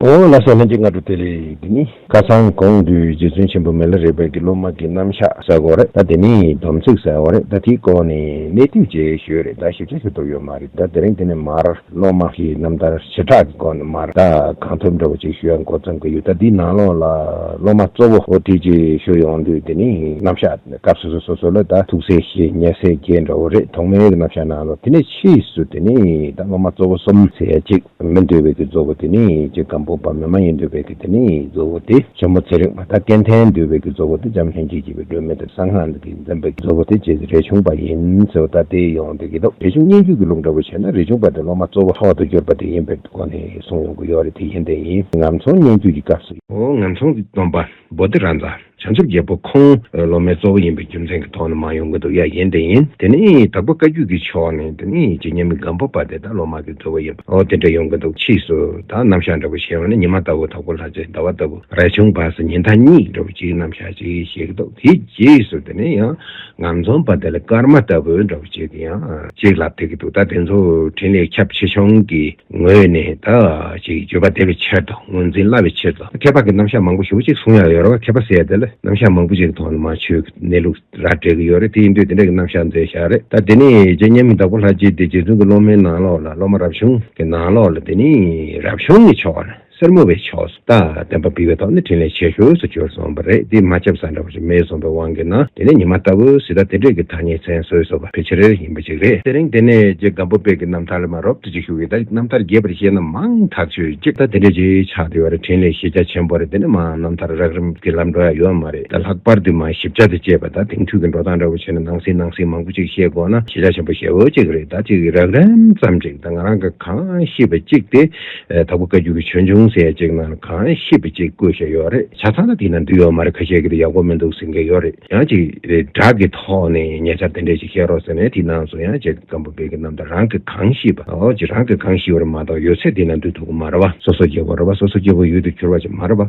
ངོ་བོ་ལ་སོགས་ལྷན་ཅིག་སྔ་དྲོ་དེ་ལས་འདི་ནི། ཁ་སང་གོང་དུ་རྗེ་བཙུན་ཆེན་པོ་མེ་ལོ་རས་པའི་དགེ་སློབ་མ་གི་རྣམ་གཞག་གསལ་བོ་རེད་ད་དེ་ནས་སྡོམ་ཚིག་གསལ་བོ་རེད་ད་དེའི་སྐོར་ནས་གནས་དུས་རྗེས་ཤོས་རེད་ད་ཞིབ་ཆ་ཞུ་ཐུབ་ཡོད་མ་རེད་ད་དེ་རིང་དེ་ནས་མར་སློབ་མ་གི་རྣམ་ཐར་བྱེ་བྲག་གི་སྐོར་ནས་མར་ད་གང་ཐུབ་འདྲ་བོ་ཅིག་ཞུ་ཡག་འགོ་བརྩམ་གི་ཡོད་ད་དེའི་ནང་ལོགས་ལ་སློབ་མ་གཙོ་བོ་འོ་དེ་རྗེས་ཤོས་ཡོང་དུས་དེ་ནས་རྣམ་གཞག་སྐབས་སོ་སོ་སོ་སོ་ལ་ད་ཐུགས་སྲས་ཞེ་ཉེ་སྲས་བརྒྱད་འདྲ་བོ་རེད་ཐོག་མའི་རྣམ་གཞག་ནང་ལོགས་དེ་ནས་ཕྱིས་སུ་དེ་ནས་ད་སློབ་མ་གཙོ་བོ་གསུམ་ཟེར་ཡ་གཅིག། མི་འདོད་པའི་གྱི་གཙོ་བོ་དེ་ནི་ཅི་གམ་པོ་པ་མི་མ་ཡིན་འདོད་པའི་གྱི་དེ་ནི་གཙོ་བོ་སྟེ། ཆེན་མོ་ཚེ་རིང་བ་དང་སྐལ་ལྡན་འདོད་པའི་གྱི་གཙོ་བོ་སྟེ་འཇམ་ལྷན་སྐྱེས་བྱེད་པའི་སྒྲོན་མེ་དང་གསང་སྔགས་འདི་འཛིན་པའི་གཙོ་བོ་སྟེ་ཅེས་རས་ཆུང་པ་ཡིན་ཟེར་བ་ལྟར་ཏེ་ཡོང་སྟེ་གྱི་རེ་ཆུང་སྙན་བརྒྱུད་ཀྱི་ལུགས་འདྲ་བོ་བྱས་ན་རས་ཆུང་པ་དེ་སློབ་མ་གཙོ་བོ་ཐོག་ཏུ་གྱུར་པ་དེ་ཡིན་པའི་སྒོ་ནས་གསུངས་ཡོང་གི་ཡོད་རེད་དེ་ཡིན་དེ་ཡིན་ངམ་མཚུངས་སྙན་བརྒྱུད་ཀྱི་སྐབས་སུ། ངམ་མཚུངས་སྡོམ་པ། པོ་ཏི་རཱ་འཛའ། བྱང་ཆུབ་རྒྱལ་པོ་ཁོང་སློབ་མའི་གཙོ་བོ་ཡིན་པའི་རྒྱུ་མཚན་གྱི་ཐོག་ནས་མང་ཡོང་གི་འདུག་ཡ་ཡན་དེ་ཡིན། དེ་ནི་དྭགས་པོ་བཀའ་བརྒྱུད་ཀྱི་ཕྱོགས་ནས་དེ་ནི་རྗེ་མཉམ་མེད་སྒམ་པོ་པ་དེ་དག་སློབ་མ་གི་གཙོ་བོ་ཡིན་པ་འོ་དེ་འདྲ་ཡོང་གི་འདུག་ཕྱིས་སུ་དག་རྣམ་གཞག་འདྲ་པོ་བྱས་བ་ནི་ཉི་མ་ལྟ་བུ་དྭགས་པོ་ལྷ་རྗེ་ཟླ་བ་ལྟ་བུ་རལ་ཆུང་བ་སོགས་ཉིན་ཐ་སྙིགས་འདྲ་པོ་གཅིག་རྣམ་གཞག་གཅིག་བྱེད་ཀྱི་འདུག་དེའི་རྗེས་སུ་དེ་ནི་ཡང་ངམ་རྫོང་པ་དེ་ལ་སྐར་མ་ལྟ་བུ་འདྲ་པོ་གཅིག་གི་ཡང་གཅིག་ལ་ཕེབས་ཀྱི་འདུག་ད་དེ་ཚོ་འཕྲིན་ལས་ཁྱབ་ཆེ་ཆུང་གིས་ངོས་ནས་ད་ཅིག་བརྗོད་པ་བདེ་བའི་ཕྱིར་དང་ངོས་འཛིན་སླ་བའི་ཕྱིར་དང་ཁྱད་པར་གྱི་རྣམ་གཞག་མང་པོ་ཞུ་གཅིག་གསུང་ཡག་ཡོད་རེད་བ་མཁས་པ་ཟེར་དེ་ལ་རྣམ་གཞག་མང་པོ་ཅིག་གི་ཐོག་ནས་མ་ཆོས་ཀྱི་གནས་ལུགས་ར་སྤྲད་ཀྱི་ཡོད་རེད་དེ་ཡིན་དུས་དེ་འདྲ་གི་རྣམ་གཞག་མཛད་ཤག་རེད་ད་དེ་ནས་རྗེ་མཉམ་མེད་བདག་པོ་ལྷ་རྗེ་འདི་རྗེ་བཙུན་གྱི་སློབ་མའི་ནང་ལོགས་ལ་སློབ་མ་རབ་བྱུང་གི་ནང་ལོགས་ལ་དེ་ནི་རབ་བྱུང་གི་ཕྱོགས་ལ། སེར་མོ་བའི་ཕྱོགས་སུ་རྟགས་བདེན་པ་འབུལ་བའི་ཐོག་ནས་དྲིན་ལན་ཆེ་ཤོས་སུ་གྱུར་སོང་བ་རེད་འདི་མ་ཁྱབ་ས་འདྲ་བ་ཞིག་མེད་སོང་བའི་དབང་གིས་ན་དེ་ནས་ཉི་མ་ལྟ་བུ་ཞིག་ད་ལྟའི་འབྲེལ་གྱི་ཐ་སྙད་མཚན་གསོལ་སོགས་པ་ཕལ་ཆེར་ཡིན་པ་ཅིག་རེད། དེ་རིང་དེ་ནས་རྗེ་སྒམ་པོ་དཔལ་གྱི་རྣམ་ཐར་ལས་མ་རོབ་ཏུ་ཅིག་ཤོས་ཀྱི་ད་རྣམ་ཐར་རྒྱས་པར་བཤད་ན་མང་ཐག་ཆོད་ཅིག་ད་དེ་འདྲའི་རྗེས་ཆགས་དེ་བར་དྲིན་ལས་གཞི་རྒྱ་ཆེན་པོ་རེད་འདི་ནས་མང་རྣམ་ཐར་རགས་རིམ་གྱི་ལམ་འགྲོ་ཡ་ཡོད་མ་རེད་ད་ལྷག་པར་དུ་མང་ཞིབ་ཆ་དང་བཅས་པ་ད་དེང་དུས་ཀྱི་འགྲོ་སྟངས་འདྲ་བོ་བྱས་ན་ནང་སྲིད་ནང་སྲིད་མང་པོ་ཅིག་བཤད་དགོས་ན་གཞི་རྒྱ་ཆེན་པོ་ཞེ་བོ་ཅིག་རེད་ད་ཅིག་རགས་རིམ་ཙམ་ཅིག་ད་ང་རང་གིས་གང་ཤེས་པ་ཅིག་དེ་དྭགས་པོ་བཀའ་འགྱུར་ཆོས་འབྱུང་ཟེར་ཡ་ཅིག་ནང་ལ་གང་ཤེས་པའི་ཅིག་བཀོད་བཞག་ཡོད་རེད་ཆ་ཚང་ན་དེ་ནང་འདུས་ཡོད་མ་རེད་ཁ་ཤས་ཀྱི་དེ་ཡག་པོ་མི་འདུག་ཟེར་མཁན་ཡོད་རེད་ཡང་ཅིག་བསྒྲགས་ཀྱི་ཐོག་ནས་ཉེ་ཆར་དེ་འདྲས་ཅིག་བཤད་རོགས་ཟེར་ནས་དེ་ནང་སོང་ཡང་ཅིག་སྐམ་པོ་བེ་ཀི་རྣམས་དང་རང་གི་གང་ཤེས་པ་འོ་ཅིག་རང་གི་གང་ཤེས་པ་རེད་མ་གཏོགས་ཡོད་ཚད་དེ་ནང་འདུས་ཐུབ་ཀྱི་མ་རེད་བ། སོ་སོ་སྐྱེ་བོ་རེད་བ་སོ་སོ་སྐྱེ་བོ་ཡུལ་དུ་གྱུར་བ་ཅིག་མ་རེད་བ།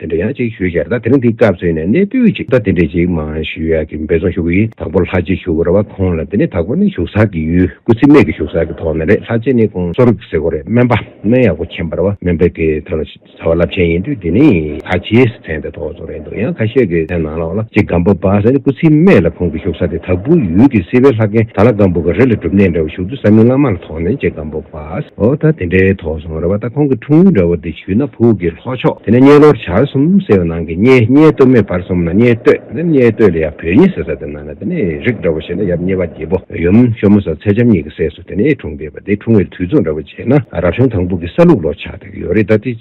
དེ་འདྲ་ཡག་ཅིག་ཞུ་བྱས་ད་དེ་རིང་འདི་སྐབས་བཟོས་ནས་གནས་སྤོས་ཅིག་ད་དེ་འདྲ་ཅིག་མ་ཞུ་ཡག་གི་འབེ་ཚོང་ཞུ་གི་དང་པོ་ལྷ་རྗེ་ཞུ་ར་བ་ཁོང་ལ་དེ་ནས་དང་པོ་ནི་ཞུགས་ས་གི་ཡུལ་སྐུ་ཚེ་སྨད་ཀྱི་ཞུགས་ས་གི་ཐོག་ནས་རེད་ལྷ་རྗེ་ནི་ཁོང་གསོ་རིག་ཟེར་གོ་རེད་སྨན་པ་སྨན་ཡག་པོ་མཁྱེན་པར་བ་སྨན་པའི་གི་ཐང་ལ་ཟ་བ་རླབས་ཆེན་ཡིན་དུས་དེ་ནི་ལྷ་རྗེའི་ཚན་དེ་ཐོག་བཟོ་རེད་འདུག་ཡང་ཁ་ཤས་ཀྱི་ཚན་ནང་ལོགས་ལ་ཅིག་སྒམ་པོ་པ་ཟེར་ནི་སྐུ་ཚེ་སྨད་ལ་ཁོང་གི་ཞུགས་ས་དེ་དྭགས་པོའི་ཡུལ་གྱི་སེ་བའི་ལྷ་རྒན་ད་ལ་སྒམ་པོ་ག་རེ་ལ་སྒྲུབ་གནས་འདྲ་བ་ཞུགས་དུས་ས་མིང་བླ་མ་ལ་ཐོག་ནས་ཅིག་སྒམ་པོ་པ། ཨོ་ད་དེ་འདྲའི་དོགས་སོང་རེད་བ་ད་ཁོང་གི་འཁྲུངས་ཡུལ་འདྲ་བོ་འདི་བྱུས་ན་བུག་གི་ལྷོ་ཕྱོགས་དེ་ནས་རྙེ་ལོར་བྱར་གསུམ་ཟེར་བ་ནང་གི་རྙེ་རྙེ་སྟོད་མོའི་བར་གསུམ་ན་རྙེ་སྟོད་དེ་ནས་རྙེ་སྟོད་ལ་ཡང་བོད་རྙེ་ཟེར་ས་དེ་ན་ན་དེ་ནས་རིགས་འདྲ་བོ་བྱས་ན་ཡབ་རྙེ་བ་རྒྱལ་པོ་ཡུམ་ཤོ་མོ་ཟ་ཚེ་འཇམ་གཉིས་ཀྱི་སྲས་སུ་དེ་ནས་འཁྲུངས་བསྡད་པ་དེ་འཁྲུངས་ཡུལ་དུས་ཚོད་འདྲ་བོ་བྱས་ན་རབ་བྱུང་དང་བུག་གི་ས་ལུགས་ལོ་ཆགས་དེ་གི་ཡོད་རེད་ད་དེ།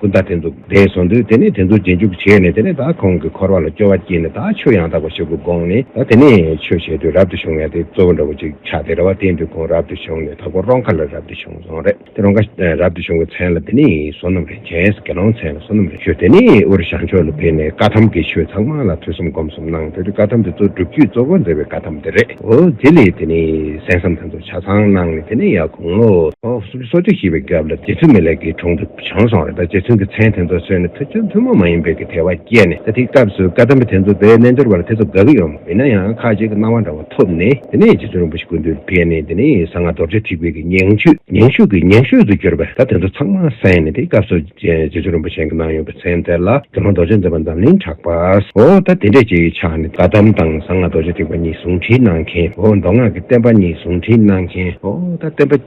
ཀུན་ད་དེ་འདུག་དེ་བཟོ་འདོད་དེ་ནས་དེ་འདུག་རྗེས་འཇུག་བྱས་ནས་དེ་ནས་ད་ཁོང་གི་འཁོར་བ་ལ་སྐྱོ་བ་སྐྱེས་ནས་ད་ཆོས་ཡང་དག་པ་ཞིག་གི་དགོངས་ནས་ད་དེ་ནས་ཆོས་བྱས་དུས་རབ་ཏུ་བྱུང་ཡང་དེ་གཙོ་བོ་འདྲ་བོ་ཅིག་ཆགས་ཏེ་རེ་བ་དེའི་འདུག་ཁོང་རབ་ཏུ་བྱུང་ནས་ད་སྒོ་རོང་ཁ་ལ་རབ་ཏུ་བྱུང་སོང་རེད་དེ་རོང་ཁ་རབ་ཏུ་བྱུང་གི་མཚན་ལ་དེ་ནས་བསོད་ནམས་རིན་ཆེན་ཟེར་དགེ་སློང་མཚན་ལ་བསོད་ནམས་རིན་ཆོད་དེ་ནས་དབུས་རི་ཞང་ཕྱོགས་ལ་ཕེབས་ནས་བཀའ་ཐམ་གྱི་ཆོས་ཚང་མ་ལ་ཐོས་བསམ་སྒོམ་གསུམ་གནང་དེ་དུས་བཀའ་ཐམ་དེ་ཚོ་སྒྲུབ་བརྒྱུད་གཙོ་བོ་མཛད་པའི་བཀའ་ཐམ་དེ་རེད་འོ་དེ་ལས་དེ་ནས་གསན་བསམ་དེ་ཚོ་ཆ་ཚང་གནང་ནས་དེ་ནས་ཡང་དགུང་ལོ་སོ་བཅུ་བཞི་པའི་སྐབས་ལ་རྗེ་བཙུན་མི་ལེགས་ཀྱི་དྲུང་དུ། བྱང་སོང་བས་ད་རྗེ་བཙུན་གྱི་མཚན་དེ་ཚོ་གསོལ་ནས་ཐུགས་ཁྱོད་ཐུན་མོང་མ་ཡིན་པའི་གི་དལ་བ་བསྐྱེད་ནས་ད་ཐིག་སྐབས་སུ་བཀའ་གདམས་པ་དེ་ཚོ་བས་རྣལ་འབྱོར་བ་ལ་དེ་ཚོ་དགའ་གི་ཡོད་མ་ཡིན་ན་ཡང་ཁ་ཅིག་གི་སྣང་བ་འདྲ་བོ་ཐོབ་ནས་དེ་ནས་རྗེ་བཙུན་རིན་པོ་ཆེ་ཀུན་འདུས་ལ་ཕེབས་ནས་དེ་ནས་གསང་སྔགས་རྡོ་རྗེ་ཐིག་དཔལ་གྱི་ཉིང་བཅུད་ཉིང་ཤུགས་ཀྱི་ཉིང་ཤུད་དུ་གྱུར་པས་ད་དེ་ཚོ་ཚང་མ་གསན་ནས་དེ་སྐབས་སུ་རྗེ་བཙུན་རིན་པོ་ཆེན་གྱི་སྣང་ཡོངས་ཀྱི་མཚན་དེ་ལ་དེ་མ་རྡོ་རྗེ་འཛིན་པ་འཛམ་གླིང་གྲགས་པ་འོ་ད་དེ་འདྲས་ཀྱི་ཕྱག་ནི་བཀའ་གདམས་དང་གསང་སྔགས་རྡོ་རྗེ་ཐིག་པ་གཉིས་ཟུང་འཁྲིལ་གནང་མཁན་འོ་མདོ་སྔགས་ཀྱི་བསྟན་པ་གཉིས་ཟུང་འཁྲིལ་གནང་མཁན་འོ་ད་བསྟན་པ།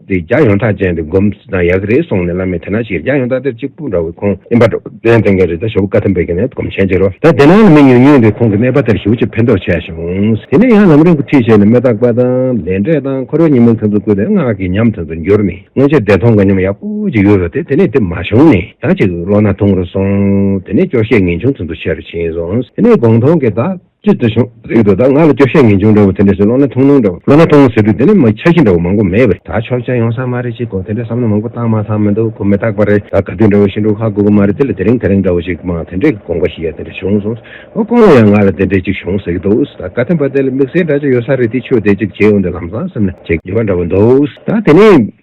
དེ་རྒྱ་ཡོངས་གྲགས་ཅན་དུ་སྒོམ་ཟེར་ན་ཡག་གི་རེད་སོང་ནས་བླ་མས་དེ་ན་ཞིག་རྒྱ་ཡོངས་གྲགས་དེར་གཅིག་པུ་འདྲ་བའི་ཁོང་ཨིན་པ་འགྲོ་དོན་བསྟན་མཁན་རེད་ད་ཞོ་བོ་བཀའ་ཐམ་པའི་གི་ནས་སྒོམ་ཆེན་བྱེད་རོགས་ད་དེ་ན་ལ་མི་ཉུང་ཉུང་དེ་ཁོང་གི་སྨྲས་པ་དེར་ཞིབ་ཅིག་ཕན་ཐོགས་བྱས་བྱུང། དེ་ནས་ཡང་ལམ་རིང་གི་ཁྲིད་བྱས་ནས་མེ་ཏོག་པ་དང། ལས་འབྲས་དང་འཁོར་བའི་ཉིན་མོ་དེ་ཚོ་བཀོད་དེ་སྔགས་ཀྱི་ཉམས་དེ་ཚོ་འགྱུར་ནས་སྔོན་ཆད་བདེ་ཐང་གི་ཉམས་ཡག་པོ་ཅིག་ཡོད་རེད་དེ་དེ་ནས་དེ་མ་བྱུང་ནས་ད་ཅིག་བློ་སྣ་ཐུང་རུ་སོང། དེ་ནས་སྐྱོ་ཤས་ངེས་འབྱུང་དེ་ཚོ་ཆེ་རུ་ཕྱིན་སོང། དེ་ནས་དགོངས་མཐོང་གི་བདག། ཅེས་བརྩི་བྱུང། རིགས་འདུག་ད་ང་ལ་སྐྱོ་ཤས་ངེས་འབྱུང་འདྲ་བོ་དེ་འདྲས་སུ་བློ་སྣ་ཐུང་ཐུང་འདྲ་བོ་བློ་སྣ་ཐུང་ཐུང་ཟེར་དུས་དེ་ནས་མ་འཆར་གཞི་འདྲ་བོ་མང་པོ་མེད་པ་རེད་ད་ཆོག་མཆན་ཡོང་ས་མ་རེད་ཅེས་དགོངས་དེ་འདྲའི་བསམ་བློ་མང་པོ་བཏང་མ་ཚང་མི་འདུག་གོ་མི་རྟག་པ་རེད་ད་ག་དུས་འདྲ་བོ་ཞིག་འགྲོ་ཁག་དགོས་ཀྱི་མ་རེད་དེ་ལ་དེ་རིང་དེ་རིང་འདྲ་བོ་ཞིག་མང་དེ་འདྲས་ཀྱི་དགོངས་པ་ཞིག་ཡ་དེ་འདྲས་བྱུང་སོང་ཨོ་དཀོན་ལོ་ཡང་ང་ལ་དེ་འདྲས་ཅིག་བྱུང་ཟེར་གྱི་འདུག་ད་བཀའ་བསྟན་པ་དེ་ལ་དམིགས་བསལ་འདྲ་ཅིག་ཡོད་ས་རེད་དེ་ཆོས་དེ་ཅིག་བྱེད་འོང་དུས་ལམ་སང་སེམས་ནས་བྱེད་ཀྱི་པ་འདྲ་བོ་འདུག་ད་དེ་ནི།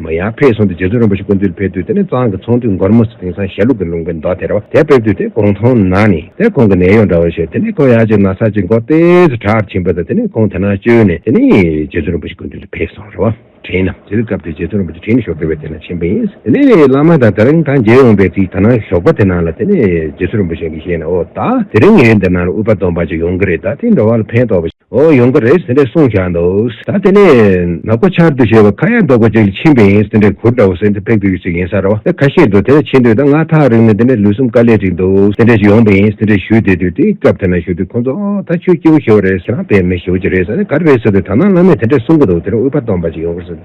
མོ་ཡང་ཕེབས་སོང་སྟེ་རྗེ་བཙུན་རིན་པོ་ཆེ་སྐུ་མདུན་ལ་ཕེབས་དུས་དེ་ནས་གཙང་གི་ཚོང་དུས་མགོར་མོ་སི་དེང་སང་ཞལ་ལུགས་ཀྱི་ལུང་པའི་མདོ་དེར་བ་དེ་ཕེབས་དུས་དེ་དགོང་མཐོང་ན་ནི་དེ་ཁོང་གི་ནད་གཡོག་འདྲ་བ་ཞིག་དེ་ནས་ཁོང་ཡ་གཅིག་ན་ས་གཅིག་མགོ་སྟེ་སུ་གྲགས་ཀྱིས་ཕྱིན་པ་དང་དེ་ནས་ཁོང་དེ་ན་བཅོལ་ནས་དེ་ནས་རྗེ་བཙུན་རིན་པོ་ཆེ་སྐུ་མདུན་དུ་ཕེབས་སོང་རེད་བ་དྲན་ན་དེའི་སྐབས་དེར་རྗེ་བཙུན་རིན་པོ་ཆེ་ཁྲིད་ནས་ཞོགས་ཀྱི་བས་དེ་ན་ཕྱིན་པ་ཡིན་དེ་ནས་བླ་མ་དང་དེ་རིང་ཐང་རྒྱལ་འོངས་པའི་ཚིག་ད་ནང་ཞོགས་པ་དེ་ན་ལ་དེ་ནས་རྗེ་བཙུན་རིན་པོ་ཆེ་གིས་བཤད་ན་འོ་ད་དེ་རིང་ངའི་འདི་ན་ལ་དབུས་པ་སྡོམ་པ་ཅིག་ཡོང་གི་རེད་ད་དེའི་འགྲོ་བ་ལ་ཕན་ཐོགས་པ་འོ་ཡོང་གི་རེད་ཟེར་ནས་གསུངས་བཞག་འདུག་ད་དེ་ནས་ནག་པོ་ཆར་དུ་བྱས་པ་ཁ་ཡག་འདོག་པ་ཅིག་ཕྱིན་པ་ཡིན་ཟེར་ནས་གུར་འདྲ་བོ་ཟེར་ནས་ཕེབས་དགོས་ཀྱི་ཅིག་ཡིན་ས་ར་བ་ཁ་ཤས་འདུག་དེ་ནས་ཕྱིན་དུས་ད་ང་ཐག་རིང་ནས་དེ་ནས་ལུས་སེམས་དཀའ་ལས་ཅིག་འདུག་ཟེར་ནས་ཅིག་ཡོང་པ་ཡིན་ཟེར་ནས་ཞུས་དེ་དུས་དེ་སྐབས་དེ་ན་ཞུ་དུས་ཁོང་ཚོ་ཨོ་ད་ཁྱོད་སྐྱེ་བོ་ཞེ་བོ་རེད་ཁྱེད་རང་བལ་མི་ཞེ་བོ་ཅིག་རེད་ས་ནས་ག་རེ་རེད་ཟེར་དུས་ད་ནང་བླ་མས་དེ་འདྲ་གསུངས་ཀྱི་འདུག་དེ་ནས་དབུས་པ་སྟོང་པ་ཅིག་ཡོང་གི་རེད།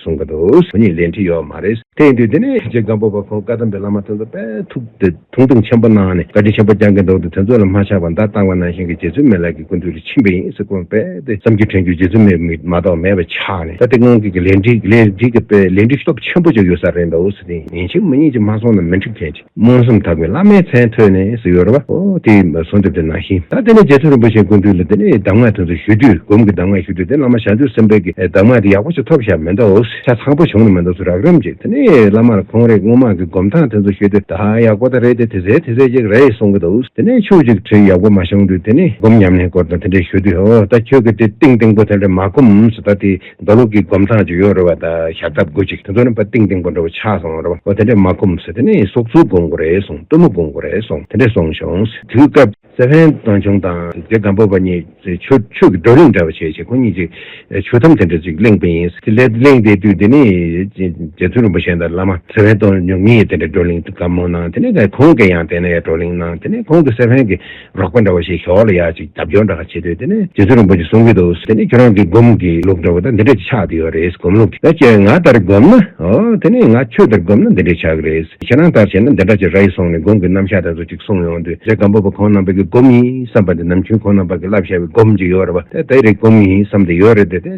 གསུང་གི་འདུག་བོད་ཉིད་ལས་འབྲི་ཡོད་མ་རེད། དེ་ཡིན་དུས་དེ་ནས་ཐུགས་རྗེ་སྒམ་པོ་པ་ཁོང་བཀའ་དམ་པའི་བླ་མ་དོན་རྩ་དཔལ་ཐུགས་དེ་དུང་བསྟན་ཆེན་པོ་གནང་ནས་བཀའ་དྲིན་ཆེན་པོ་བསྐྱངས་གི་འདུག་དེ་དོན་རྩོད་ལ་མ་ཆགས་པར་མདའ་བཏང་བ་ནང་བཞིན་གྱི་རྗེ་བཙུན་མའི་ལག་གི་ཀུན་ཏུ་རིག་ཕྱིན་པ་ཡིན་ཟེར་དགོངས་པས་དེ་བསམ་རྒྱུ་དྲན་རྒྱུ་རྗེ་བཙུན་མའི་མིག་མ་གཏོགས་མེད་པ་ཆགས་ནས་ད་དེ་སྔོན་གྱི་ལས་འབྲི་ལས་འབྲི་གི་དཔེ་ལས་འབྲི་སྟོབས་ཆེན་པོ་ཅིག་ཡོད་ས་རེད་འདུག་སྲིད་དེ་ཡིན་ཕྱིན་མི་ཉིད་ཀྱིས་མ་སོང་ན་མི་འགྲིག་མཁན་ཅི། རྨོངས་སེམས་དག་པའི་བླ་མའི་མཚན་ཐོས་ནས་སུ་ཡོད་ར་བ། ཨོ་དེ་གསོལ་འདེབས་དེ་ནང་བཞིན་ད་དེ་ནས་རྗེ་ཚེ་རིན་པོ་ཆེའི་སྐུ་མདུན་ལ་དེ་ནས་གདམས་ངག་དེ་ཚོ་ཞུས་དུས་སྒོམ་གྱི་གདམས་ངག་ཞུས་དུས་དེ་བླ་མ་ཞང་བཅུ་སེམས་དཔའི་གི་གདམས་ངག་དེ་ཡག་པོ་ཞིག་ཐོབ་ཞག་མེ་མདའ་འོག་ཤ་ཚ་པོ་བྱུང་ནས་མེ་མདའ་ཚོ་རག་རིམ་གྱིས་དེ་ནས་བླ་མར་ཁོང་རེག་སྔོ་མ་གི་སྒོམ་སྟངས་དེ་ཚོ་ཞུས་དུས་ད་ཡག་པོ་ད་རེད་དེ་དེ་ཟེར་དེ་ཟེར་ཅིག་རེད་གསུང་གི་འདུག་དེ་ནས་ཆུ་གཅིག་དྲིལ་ཡག་པོ་མ་བྱུང་དུས་དེ་ནས་སྒོམ་ཉམས་ལེན་སྐོར་དང་དེ་འདྲས་ཞུས་དུས་ཨོ་ད་ཁྱོད་ཀྱི་དེ་ཏིང་ཏིང་པོ་དེ་འདྲ་མ་སྒོམས་སུ་ད་དེ་རྡོ་ལུག་གི་གོམ་ཐང་ཅིག་ཡོད་རེད་བ་ད་ཞག་འདབ་དགོས་ཅིག་དེ་ཚོ་ནི་བ་ཏིང་ཏིང་པོ་འདྲ་བོ་ཆགས་སོང་རེད་བ་འོ་དེ་འདྲས་མ་གོམས་ཟེར་དེ་ནས་སོག་ཚུལ་དགོང་དགོ་རེད་སོང་སྟོན་མོ་དགོང་དགོ་རེད་སོང་དེ་འདྲས་སོང་ཞོང་དུས་སྐབས། སེ་བྷན་ཏོན་ཆུང་དང་དེ་སྒམ་པོ་བ་གཉིས་ཆོས་ཆོས་ཀྱི་བགྲོ་གླེང་འདྲ་བ་བྱས་བྱས་ཁོ་གཉིས་ཀྱིས་ཆོས་ཐམ་དེ་འདྲ་ཅིག་གླེང་པ་ཡིན་ཟེར་དེ་གླེང་བསྡད་དུས་དེ་ནས་རྗེ་བཙུན་རིན་པོ་ཆེ་དང་བླ་མ་སེ་བྷན་ཏོན་ཉུང་གཉིས་དེ་འདྲས་བགྲོ་གླེང་གམ་མོ་གནང་དེ་ནས་ཁོང་གི་ཡང་དེ་ནས་བགྲོ་གླེང་གནང་དེ་ནས་ཁོང་གིས་སེ་བྷན་གྱི། རོགས་པ་འདྲ་བོ་ཞིག་ཞོགས་ལ་ཡག་ཅིག་རྒྱབ་སྐྱོར་འདྲ་ག་བྱེད་འདོད་དེ་ནི་རྗེ་བཙུན་རིན་པོ་ཆེ་གསུང་གི་འདུག་དེ་ནི་ཁྱོད་རང་གི་སྒོམ་གི་ལུགས་འདྲ་བོ་དང་འདི་འདྲ་ཅིག་ཆགས་འདི་ཡོད་རེད་སྒོམ་ལུགས་ཀྱི་ཁྱོད་ང་ལྟར་སྒོམ་ན་ཨོ་དེ་ནི་ང་ཁྱོད་ལྟར་སྒོམ་ན་འདི་འདྲ་ཆགས་གི་རེད་ཁྱེད་རང་ལྟར་བྱས་ན་འདི་འདྲ་ཅིག་རེད་སོང་ནས་སྒོམ་གི་རྣམ་གཞག་དེ་ཚོ་ཅིག་གསུང་ཡོང་དུས་རེད་སྒམ་པོ་པ་ཁོང་རྣམ་པ་གི་སྒོམ་ཡིན་བསམ་པ་འདི་ནམ་ཆུང་ཁོང་རྣམ་པ་གི་བསླབ་བྱ་བའི་སྒོམ་ཅིག་ཡོད་རེད་བ་དེ་དེ་རེད་སྒོམ་ཡིན་བསམ་དེ་ཡོད་རེད་དེ་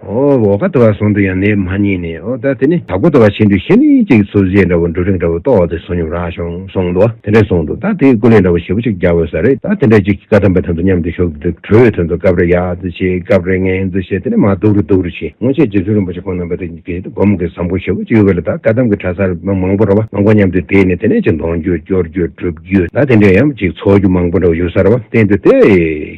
འོ་ཨོ་ཁ་དོ་བ་ཟོང་དུ་ཡང་ནས་མ་རྙེད་ནས་ཨོ་ད་དེ་ནི་ད་ཁོ་དོ་བ་བྱེད་འདོད་ཤེས་ནི་ཅིག་ཚོ་བཞེས་འདྲ་བོ་འབྲུ་རིགས་འདྲ་བོ་ཏོག་དེ་ཟོ་སྙོམས་ར་ཤོང་ཟོང་དུ་དེ་འདྲ་ཟོང་དུ་ད་དེ་ཀུ་ལེ་འདྲ་བོ་ཞེ་པོ་ཅིག་རྒྱག་དགོས་ས་རེད་ད་དེ་འདྲ་ཅིག་གི་ཀ་ཐམ་པ་ཐམ་དུ་མཉམ་དུ་ཞོག་དེ་གྲོའི་དོན་དུ་སྐབས་རེ་ཡག་འཛུ་བྱེད་སྐབས་རེ་ངན་འཛུ་བྱེད་དེ་ནི་མ་སྡུག་རུ་སྡུག་རུ་བྱེད་སྔོན་ཆད་རྗེ་བཙུན་རིན་པོ་ཆེ་ཁོང་རྣམ་པ་དེ་གི་སྒོམ་གི་བཟང་པོ་ཞེ་པོ་ཅིག་ཡོད་པ་ལ་ད་ཀ་ཐམ་གི་གྲ་སར་མི་མང་པོ་ར་བ་མང་པོ་མཉམ་དུ་བསྡད་ནས་དེ་ནས་ཅིག་འདོང་རྒྱུ་སྐྱོར་རྒྱུ་སྒྲུབ་རྒྱུ་ད་དེ་འདྲ་ཡམ་ཅིག་ཚོགས་རྒྱུ་མང་པོ་འདྲ་བོ་ཡོད་ས་ར་བ་བསྟན་འདོད་དེ།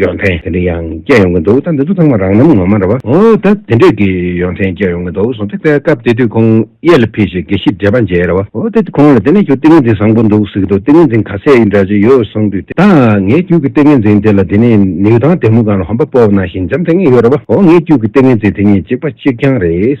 ཡོན་ཏན་དེ་འདྲ་ཡང་སྐྱེ་ཡོང་གི་འདུག་ད་འདི་ཚོ་ཚང་མ་རང་རྣམ་ངོ་མ་རེད་བ། འོ་ད་དེ་འདྲས་ཀྱི་ཡོན་ཏན་སྐྱེ་ཡོང་གི་འདུག་གསུངས་ཏེ་དེ་སྐབས་དེ་དུས་ཁོང་གཡས་ལ་ཕེབས་ཤིང་དགེ་བཤེས་འདྲེས་པ་མཇལ་ཡས་རེད་བ། འོ་ད་ཁོང་ལ་དེ་ནས་ཁྱོད་ཏིང་ངེ་འཛིན་བཟང་པོ་འདུག་ཟེར་གྱི་འདུག་ཏིང་ངེ་འཛིན་ག་ཚད་ཡིན་འདྲ་ཅི་ཡོད་གསུངས་དུས་དེ། ད་ངས་ཁྱོད་ཀྱི་ཏིང་ངེ་འཛིན་དེ་ལ་དེ་ནས་ནེའུ་ཐང་དེ་མོ་གང་ལ་ཧོམ་པ་སྤོབས་ན་ཞིང་འཇམ་དེ་ངས་ཡོད་རེད་བ། འོ་ངས་ཁྱོད་ཀྱི་ཏིང་ངེ་འཛིན་དེ་ཉིད་གཅིག་པ་གཅིག་རྐྱང་རེད།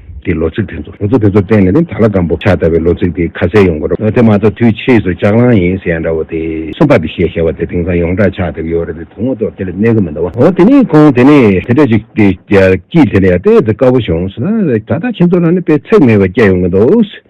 གི་ལོ་ཚིགས་དེ་ཚོ། ལོ་ཚིགས་དེ་ཚོར་བརྟེན་ནས་ནི་ད་ལ་སྒམ་པོ་ཆགས་ལྟ་བུའི་ལོ་ཚིགས་དེ་ཁ་གསལ་ཡོང་གི་རོ། དེ་མ་གཏོགས་དུས་ཕྱིས་སུ་ལྕགས་སླང་ཡིན་ཟེར་ཡ་འདྲ་བོ་དེ། སུམ་པ་དེ་ཞེས་བྱ་བ་དེ་དེང་སང་ཡོངས་གྲགས་ཆགས་ལྟ་བུ་ཡོད་རེད་དེ་དོན་ངོ་ཐོག་དེ་ལ་གནས་གི་མི་འདུག་བ། འོ་དེ་ནས་ཁོང་དེ་ནས་དེ་འདྲ་ཞིག་དེ་སྐྱིད་དེ་ནས་ཡ་དེ་དེ་དཀའ་བོ་བྱུང་སོང། ད་ལྟ་ཁྱེད་ཚོ་ལ་ནི་དཔེ་ཚེགས་མེད་པ་སྐྱེ་ཡོང་གི་འདུག།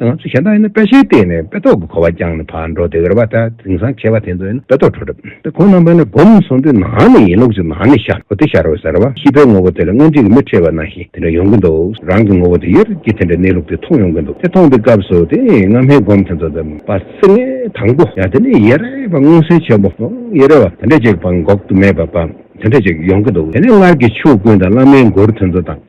ང་ཚོ་གཞན་དག་ཡིན་ན་དཔེ་ཆའི་སྟེང་ནས་དཔེ་ཏོག་གི་གོ་བ་རྐྱང་ནས་ཕར་འགྲོ་དེ་རེ་བ་དང་དེང་སང་བྱས་པ་དེ་ཚོ་ཡིན་ན་དཔེ་ཏོག་འཕྲོ་གྲབས་དེ་གོང་ནང་པའི་ནས་སྒོམ་སོང་དེ་ནང་ནས་ཡིན་ལུགས་ཅིག་ནང་ནས་ཤར་འོ་དེ་ཤར་འོ་ཟེར་བ་ཤི་བའི་ངོ་བོ་དེ་ལ་སྔོན་རྗེས་ཀྱི་མི་ཁྲེལ་བ་ནང་བཞིན་དེ་འདྲ་ཡོང་གི་འདུག་རང་གི་ངོ་བོ་དེ་ཡོད་རྗེས་དེ་འདྲའི་གནས་ལུགས་དེ་མཐོང་ཡོང་གི་འདུག་དེ་མཐོང་པའི་སྐབས་སུ་དེ་སྔ་མའི་སྒོམ་དེ་ཚོ་དེ་མ་ཟིན་ནས་དང་པོ་ཡང་དེ་ནས་ཡེ་རེ་བ་མངོན་གསལ་ཆེན་པོ་ཡེ་རེ་བ་དེ་འདྲ་ཅིག་བ་འགོག་ཏུ་མེད་པ་བ་དེ་འདྲ་ཅིག་ཡོང་གི་འདུག་དེ་ནས་སྔར་གྱི་ཆོས་ཀུན་དང་བླ་མའི་མགུར་དེ་ཚོ་དང།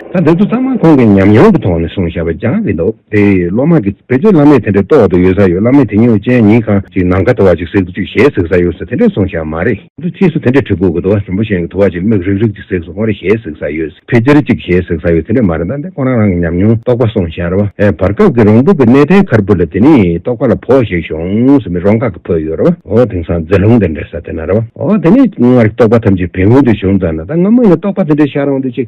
ད་དེ་ཚོ་ཚང་མ་ཁོང་གིས་ཉམས་མྱོང་གི་ཐོག་ནས་གསུངས་བཞག་པ་རྒྱང་རིང་འདུག་དེ་སློབ་མ་གིས་བེད་སྤྱོད་བླ་མས་དེ་འདྲའི་ལྟོགས་འདུག་ཡོད་ས་ཡོད་བླ་མས་དེ་སྨྱོ་ཅན་ཉིན་གང་ཅིག་ནམ་མཁའ་དུ་བ་ཅིག་ཟེགས་འདུག་ཅིག་ཞེས་ཟེགས་ས་ཡོད་ས་དེ་འདྲས་གསུངས་བཞག་མ་རེད། འདུག་ཕྱིས་སུ་དེ་འདྲས་གྲི་གུག་གི་དུ་བ་ཞིམ་པོ་ཞན་གྱི་དུ་བ་ཅིག་མིག་རིག་རིག་ཅིག་ཟེགས་སུ་སོང་རེད་ཞེས་ཟེགས་ས་ཡོད་ཕི་ཅིར་ཅིག་ཞེས་ཟེགས་ས་ཡོད་དེ་འདྲས་མ་རེད་ད་འདི་ཁོ་རང་རང་གི་ཉམས་མྱོང་རྟོགས་པ་གསུངས་བཞག་རེད་བ། བར་སྐབས་ཀྱི་རོང་ཕུག་གི་གནས་བརྟན་ཁར་བུད་ལ་དེ་ནི་རྟོགས་པ་ལ་བོགས་ཞིག་ཤོངས་ཟེར་མི་རོང་ཁག་གི་བུད་ཡོད་རེད་བ། འོ་དེང་སང་རྫི་ལུང་དེ་འདྲས་ས་དེ་ན་རེད་བ། འོ་དེ་ནི་སྔར་གྱི་རྟོགས་པ་ཐམས་ཅད་བེམ་ཡོལ་དུ་ཤོངས་ཙང་ན་ད་སྔ་མོ་ནས་རྟོགས་པ་དེ་འདྲས་ཤར་འོང་དུས་ཅིག་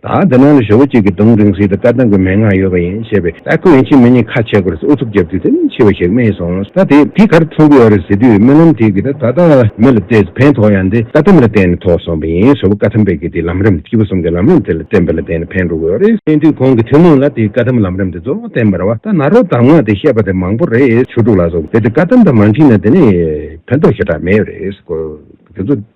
ད་དེ་ནང་ལ་ཞོ་བོ་གཅིག་གིས་གདོང་རིང་སྲིད་དུ་བཀའ་གདམས་ཀྱི་མན་ངག་ཡོད་པ་ཡིན་ཞེས་པས་ད་ཁོས་ཡིན་ཕྱིན་མི་གཉིས་ཁ་ཆད་དགོས་རེད་ཨུ་ཚུགས་རྒྱབ་དུས་དེ་ནས་འཆི་བ་ཞིག་རྨིས་སོང་ད་དེ་དེ་གར་ཚོང་གི་ཡོད་རེད་ཟེར་དུས་རྨི་ལམ་དེ་གི་ད་ད་ལྟ་མི་ལ་བལྟས་ཚེ་ཕན་ཐོགས་ཡང་དེ་བཀའ་གདམས་ལ་བརྟེན་ནས་ཐོགས་སོང་བ་ཡིན་ཞོ་བོ་བཀའ་ཐམས་ཕན་གི་དེ་ལམ་རིམ་སྐྱིད་པོ་གསུམ་གི་ལམ་རིམ་དེ་ལ་བརྟེན་པ་ལ་བརྟེན་ནས་ཕན་འགྲོ་གི་ཡོད་རེད་བརྟེན་དུས་གོང་གི་ཐུན་མོང་ལ་དེ་བཀའ་གདམས་ལམ་རིམ་དེ་གཙོ་བོ་བརྟེན་པར་བ་ད་ན་རོ་གདམས་ངག་དེ་བཤད་པ་དེ་མང་པོ་རེད་ཆོས་དྲུག་ལ་སོགས་དེ་དེ་བཀའ་གདམས་དང་མ་མཁྲིས་ན་དེ་ནས་ཕན་ཐོགས་ཞེ་དྲག་མེད་རེད་དེ་ཚོ།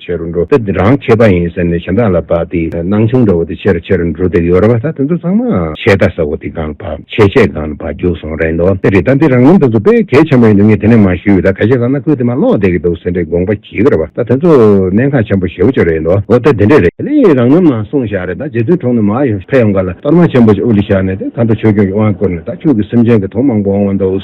ཆེ་རུ་འགྲོ་སྟབས་རང་ཁེ་པ་ཡིན་ཟེར་ནས་གཞན་དག་ལ་བབས་ཏེ་སྣང་ཆུང་འདྲ་བོ་དེ་ཆེ་རུ་ཆེ་རུ་འགྲོ་སྡད་ཡོད་རེད་བ་ད་དེ་ཚོ་ཚང་མ་ཆེ་རྟ་ཟ་བོ་དེ་སྒང་བབས་ཆེ་ཆེ་སྒང་ན་བབས་རྒྱུག་སོང་རེད་འདོད་དེ་རེད་ད་དེ་རང་རྣམ་ད་ཚོ་དཔེ་གལ་ཆེན་པོ་ཡིན་འདུག་ངས་དེ་ནས་མ་ཞུས་ད་ག་ཞེ་ཟ་ན་ཁོས་དེ་མ་ཀློག་སྡད་ཀྱི་འདུག་ཟེར་འདྲའི་དགོངས་པ་གྱིས་རེད་བ་ད་དེ་ཚོ་གནད་འགག་ཆེན་པོ་ཞེ་བོ་ཅིག་རེད་འདོད་འོ་ད་དེ་འདྲས་རེད། དེ་ནས་རང་རྣམ་ནང་སོང་བཞག་རེད་ད་རྗེ་བཙུན་གྲོང་ནས་མ་ཕེབས་ཡོང་ག་ལ་གཏོར་མ་ཆེན་པོ་ཅིག་དབུ་ལས་བཞག་ནས་དེ་ད་ལྟ་ཆོས་སྐྱོང་གི་དབང་བསྐུར་ནས་ད་ཁྱོད་ཀྱི་སེམས་ཅན་གྱི་དོན་མང་པོ་འོང་བ་འདུག།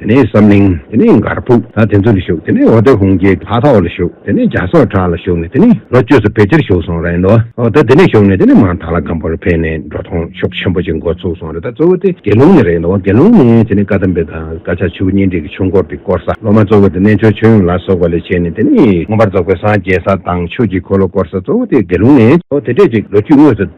དེ་ནས་བསམ་གླིང། དེ་ནས་མགར་ཕུག་ད་དེ་ཚོ་ལ་ཞུགས་དེ་ནས་འོ་དོད་ཧུང་སྐྱིད་ཕ་ཐོག་ལ་ཞུགས་དེ་ནས་རྒྱ་སོག་བྲག་ལ་ཞུགས་ནས་དེ་ནས་ལོ་བཅུ་སོ་བེ་ཅར་ཞུགས་སོང་རེད་འདོ་འོ་ད་དེ་ནས་ཞུགས་ནས་དེ་ནས་མང་ཐང་ལ་སྒམ་པོ་རུ་ཕེབས་ནས་འགྲོ་ཐོང་ཤོག་ཆེན་པོ་ཅིག་མགོ་ཚུགས་སོང་རེད་ད་གཙོ་བོ་དེ་དགེ་ལུང་ནས་རེད་འདོ་དགེ་ལུང་ནས་དེ་ནས་བཀའ་གདམས་དཔེ་དང་བཀའ་ཕྱག་ཆུ་བོ་གཉེན་སྒྲིག་གི་ཆུ་འཁོར་དེ་བསྐོར་ས་སློབ་མ་གཙོ་བོ་དེ་རྣལ་འབྱོར་ཆོས་ཡུམ་ལ་སོགས་པ་ལས་བྱས་ནས་དེ་ནས། མངོན་པར་རྫོགས་པའི་སངས་རྒྱས་ས་དང་ཆོས་ཀྱི་འཁོར་ལོ་བསྐོར་ས་གཙོ་བོ་དེ་དགེ་ལུང་ནས་འོ་དེ་སྐད་ཅིག་ལོ་བཅུ་དངོས་སུ།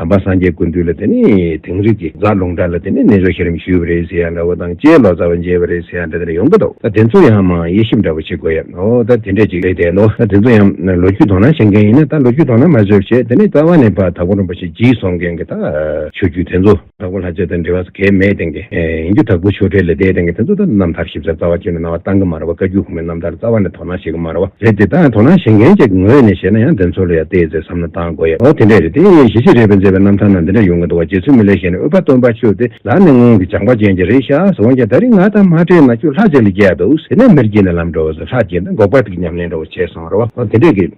དམ་པ་སངས་རྒྱས་ཀུན་འདུས་ལ་དེ་ནས་དིང་རི་གི་རྫ་ལུང་བྲག་ལ་དེ་ནས་རྣལ་འབྱོར་ཤེས་རིམ་ཞུས་པ་རེད་ཟེར་ཡ་ལ་བོ་དང་བཅས་ལོ་ཙཱ་བ་མཇལ་བ་རེད་ཟེར་ཡ་འདྲ་དེར་ཡོང་གི་འདུག་ད་དེ་ཚོ་ཡང་མང་དབྱེ་ཞིབ་འདྲ་བོ་བྱེད་དགོས་ཡ་ཨོ་ད་དེ་འདྲ་ཅིག་རེད་དེ་ལོ་ད་དེ་ཚོ་ཡང་ལོ་རྒྱུས་དོ་སྣང་བྱེད་མཁན་ཡིན་ན་ད་ལོ་རྒྱུས་དོ་སྣང་མ་བཟོད་བྱས་དེ་ནས་རྩ་བ་ནས་བར་ད་གོ་རིན་པོ་ཆེ་བགྱིས་སོང་མཁན་གི་ད། ཆོས་བརྒྱུད་དེ་ཚོ། ད་གོ་ལྷ་ཆོས་དང་འབྲེལ་བ་ས་གས་མེད་མཁན་གི་ཡིན་རྒྱུ་ད་གོ་ཆོས་འབྲེལ་ལས་འདས་མཁན་གི་དེ་ཚོ་ད་རྣམ་ཐར་ཞིབ་ཚགས་རྩ་བ་བརྒྱུད་ནས་གནང་བ་གཏང་གི་མ་རེད་བ་བཀའ་བརྒྱུད་གོང་མའི་རྣམ་ཐར་རྩ་བ་ནས་ད། དོ་སྣང་བྱེད་ཀྱི་མ་རེད་བ། རེད་དེ་དག་དོ་སྣང་བྱེད་མཁན་ཅིག་ངོས་ནས་བཤད་ན་ཡང་དེ་ཚོ་ལ་ཡང་བལྟས་ཚེ་བསམ་བློ་གཏང་དགོས་ཡ་ཨོ་དེ་འདྲས་རེད་དེ་གཞི་གཅིག་རེད་པས་མཛད་པའི་རྣམ་ཐར་ནང་དེ་འདྲ་ཡོང་གི་འདུག་བ་རྗེ་བཙུན་མི་ལས་གཞན་ནས་ཨུཏྤལ་སྟོན་པ་ཁྱོད་དེ་ལག་ནས་སྔོན་གྱི་སྦྱངས་པ་ཅན་གྱི་རེད་ཤག་འོན་ཀྱང་ད་རིང་ང་དང་མ་འབྲེལ་ན་ཁྱོད་ལྷ་གཅིག་ལ་རྒྱལ་འདུག་ཟེར་ནས་མིར་གྱེས་ནས་ལམ་འགྲོ་བ་ཚོ་ལྷ་གཅིག་འདི་འགོག་པ་ཐུག་གི་ཉམས་ལེན་འགྲོ་བ་བྱས་སོང་རེད་བ་ཨོ་དེ་འདྲས་ཀྱི།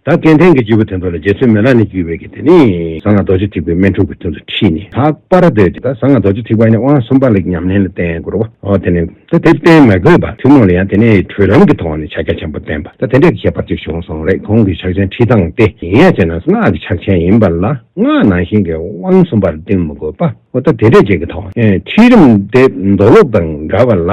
ད་སྐལ་ལྡན་གྱི་སྤྱིལ་བུ་དེ་ཚོ་ལ་རྗེ་བཙུན་མེ་ལ་ནས་བརྒྱུད་པའི་གི་དེ་ནི་ཟངས་ལྔ་རྡོ་རྗེ་ཐིགས་པའི་སྨན་དྲུག་གི་དོན་དུ་ཁྲིད་ནས་ད་པ་ར་སྡོད་ཅིག་ད་ཟངས་ལྔ་རྡོ་རྗེ་ཐིགས་པ་ནི་དབང་གསུམ་པ་ལ་གི་ཉམས་ལེན་ལ་བརྟེན་དགོས་རོ་ཨོ་དེ་ནི་ད་དེ་བརྟེན་མ་དགོས་པ་ཐུན་མོང་ལ་ཡང་དེ་ནི་གྲོལ་ལམ་གྱི་ཐོག་ནས་ཕྱག་རྒྱ་ཆེན་པོ་བསྟན་པ་ད་དེ་འདྲའི་གི་ཁྱད་པར་ཅིག་བྱུང་སོང་རེད་གོང་གི་ཕྱག་ཆེན་ཁྲིད་སྟངས་ཏེ་ཡིན་ཡ་ཅེ་ན་སྔགས་ཀྱི་ཕྱག་ཆེན་ཡིན་པ་ལ་སྔགས་ནང་བཞིན་གྱི་དབང་གསུམ་པ་ལ་བརྟེན་མི་དགོས་པ་ཨོ་ད་དེ་འདྲའི་ཅིག་གི་ཐོག་ནས་ཁྲིད་རིམ་དེ་མདོ་ལུགས་དང་འདྲ་བ་ལ།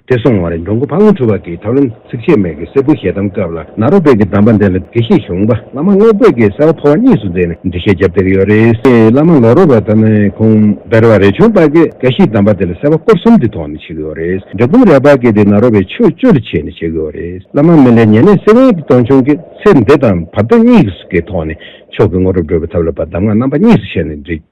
དེ་སོང་བར་མགྱོགས་མགོ་ཕང་འཁྲུ་བ་གྱིས་ཐབས་ལམ་ཚིགས་བཅད་མེད་ཀྱི་གསེར་སྐུ་ཞལ་གདམས་སྐབས་ལ་ནཱ་རོ་པོད་ཀྱི་གདམས་པ་འདི་ལ་དགེ་བཤེས་གཞུང་པ་བླ་མ་རྔོག་པོད་ཀྱིས་གསལ་བ་ཐོ་བ་གཉིས་སུ་མཛད་ནས་འབྲི་བཤད་རྒྱབ་སྟེགས་ཡོད་རེད་སྲིད་བླ་མ་ལོ་རོ་པ་ཐ་མའི་ཁུངས་འབེར་བ་རེ་བྱུང་པ་གིས་དགེ་བཤེས་གདམས་པ་འདི་ལ་གསལ་བ་སྐོར་གསུམ་འབྲི་ཐོག་ནས་བྱེད་ཀྱི་ཡོད་རེད་འབྲི་གཏོང་རལ་པ་གྱིས་དེ་ནཱ་རོ་པའི་ཆོས་སྤྱོད་ལ་བྱས་ནས་བྱེད་ཀྱི་ཡོད་རེད་བླ་མ་མི་ལའི་ཉེ་གནས་སེ་བན་གྱི་སྟོང་ཆུང་གིས་ཚེ་འདི་དང་བར་དོ་གཉིས་ཀྱི་ཐོག་ནས་མཆོག་གི་དངོས་གྲུབ་སྒྲོལ་བའི་ཐབས་ལ་བ་གདམས་ངག་རྣམ་པ་གཉིས་སུ་བྱས་ནས་འབྲི།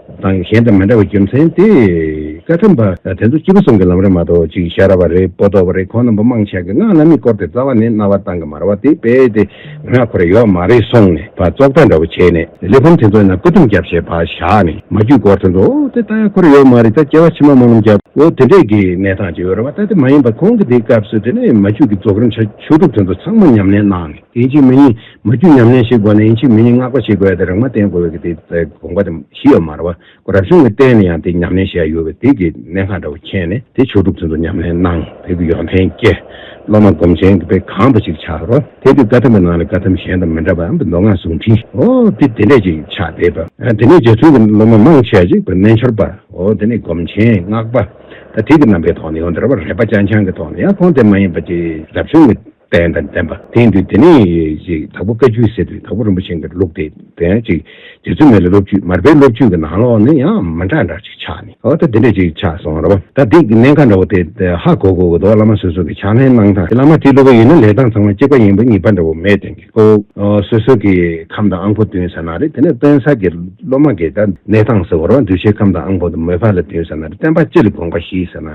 དང་གཞན་དང་མི་འདྲ་བའི་རྒྱུ་མཚན་དེ། བཀའ་ཁྲིམས་པ་དེ་ཚོ་སྤྱི་བོ་གསུམ་གྱི་ལམ་རེད་མ་གཏོགས་གཅིག་གཞག་ར་བ་རེད་སྤོ་ལྟོགས་པ་རེད་ཁོང་རྣམ་པ་དམངས་ཆེན་གྱི་སྔགས་བླ་མེད་བསྐོར་ཏེ་རྩ་བ་ནས་རྣ་བ་གཏང་གི་མ་ར་བ་དེ་དཔེ་དེ་ངག་ཁོ་ར་ཡོད་མ་རེད་གསུངས་ནས་བ་ཙོག་ལྟ་འདྲ་བོ་བྱས་ནས་གླེགས་བམ་དེ་ཚོ་ཡིན་ན་བཀའ་ཁྲིམས་རྒྱབ་ཞེས་བ་བཞག་ནས་མ་རྒྱུད་བསྐོར་དེ་ཚོ་འོ་དེ་ལྟ་ཡ་ཁོ་ར་ཡོད་མ་རེད་ད་སྐྱེ་བ་ཕྱི་མ་མ་ནོམ་རྒྱབ་འོ་དེ་འདྲས་ཀྱི་གནས་སྟངས་ཅིག་ཡོད་ར་བ་ད་དེ་མ་ཡིན་པ་ཁོང་གི་དེའི་སྐབས་སུ་དེ་ནས་མ་རྒྱུད་ཀྱི་རྫོགས་རིམ་ཆ་བཅུ་དྲུག་དེ་ཚོ་ཚང་མ་ཉམས་ལེན་གནང་ནས་དེ་གཅིག་མ་ཡིན། མ་རྒྱུད་ཉམས་ལེན་ཞིག་དགོས་ན་ཡིན་ཕྱིར་མི་ནི་བསྔགས་པ་ཞིག་དགོས་ཏེ་རག་མ་བསྟེན་དགོས་པའི་དེ་དགོངས་པ་དེ་བཞི་ཡོད་མ་རེད་བ། ཁོ་རབ་བྱུང་གི་རྟེན་ནི་ཡང་དེ་ཉམས་ལེན་ཞེས་ཡང་ཡོད་པས་དེ་གི་གནད་འགའ་འདྲ་བོ་མཁྱེན་ནས་དེ་ཆོས་སྒྲུབ་ཚུལ་དུ་ཉམས་ལེན་གནང་དེ་གི་ཡོན་ཏན་སྐྱེ། སློབ་མ་སྒོམ་ཆེན་གྱི་དཔེ་གང་བ་ཞིག་ཆགས་རོ། དེ་གི་བཀའ་ཐམས་པའི་ནང་ལས་བཀའ་ཐམས་གཞན་དང་མི་འདྲ་བའམ་མདོ་སྔགས་གཟུངས་འཕྲིནའོ། དེ་དེ་འདྲས་ཅིག་ཆགས་བསྡད་པ། དེ་ནས་རྗེ་བཙུན་གྱི་སློབ་མ་མང་ཆེ་བ་ཞིག་བོད་རྣལ་འབྱོར་པའོ། དེ་ནས་སྒོམ་ཆེན་སྔགས་པ། ད་ཐེག་གི་རྣམ་པའི་ཐོག་ནས་ཡང་འདིར་བ་རས་པ་སྤྱན་འཆང་གི་ཐོག་ནས་ཡང་ཁོང་དེ་མ་ཡིན་པ་ཅིག་རབ་བྱུང་གི། བན་དང་ལྡན་པ་དེ་ཡིན་དུས་དེ་ནི་དྭགས་པོ་བཀའ་ཆུས་ཟེར་དུས་དྭགས་པོ་རིན་པོ་ཆེ་འགའ་རེ་ལུགས་ཏེ་བན་ཅིག་རྗེ་བཙུན་མའི་ལ་སློབ་བརྒྱུད་མར་པའི་སློབ་བརྒྱུད་ཀྱི་ནང་ལོགས་ནི་ཡང་མི་འདྲ་འདྲ་ཅིག་ཆགས་ནས་ཨོ་ད་དེ་འདྲ་ཅིག་ཆགས་སོང་རེད་བ་ད་འདི་གནད་འགག་འདྲ་བོ་དེ་ཧ་གོ་དགོས་ཀྱི་འདུག་བླ་མ་སོ་སོ་གི་ཕྱག་ལེན་གནང་སྟངས་དེ་བླ་མ་དེ་སླུ་བ་ཡིན་ན་ལས་སྟངས་ཚང་མ་གཅིག་པ་ཡིན་པ་གཉིས་པ་འདྲ་བོ་མེད་དོན་གྱི་སྐུ་སོ་སོ་གི་ཁམས་དང་ཨང་ཕོ་བསྟུན་ས་ན་རེད་དེ་ནས་བསྟུན་ས་གི་སློབ་མ་འགས་ཀྱང་གནས་སྟངས་ཟེར་བ་རང་གདུལ་བྱའི་ཁམས་དང་ཨང་ཕོ་དུ་མོའི་བར་ལ་བསྟུན་ས་ན་རེད་བསྟན་པ་སྤྱི་ལ་དགོངས་པ་བཞེས་ས་ན་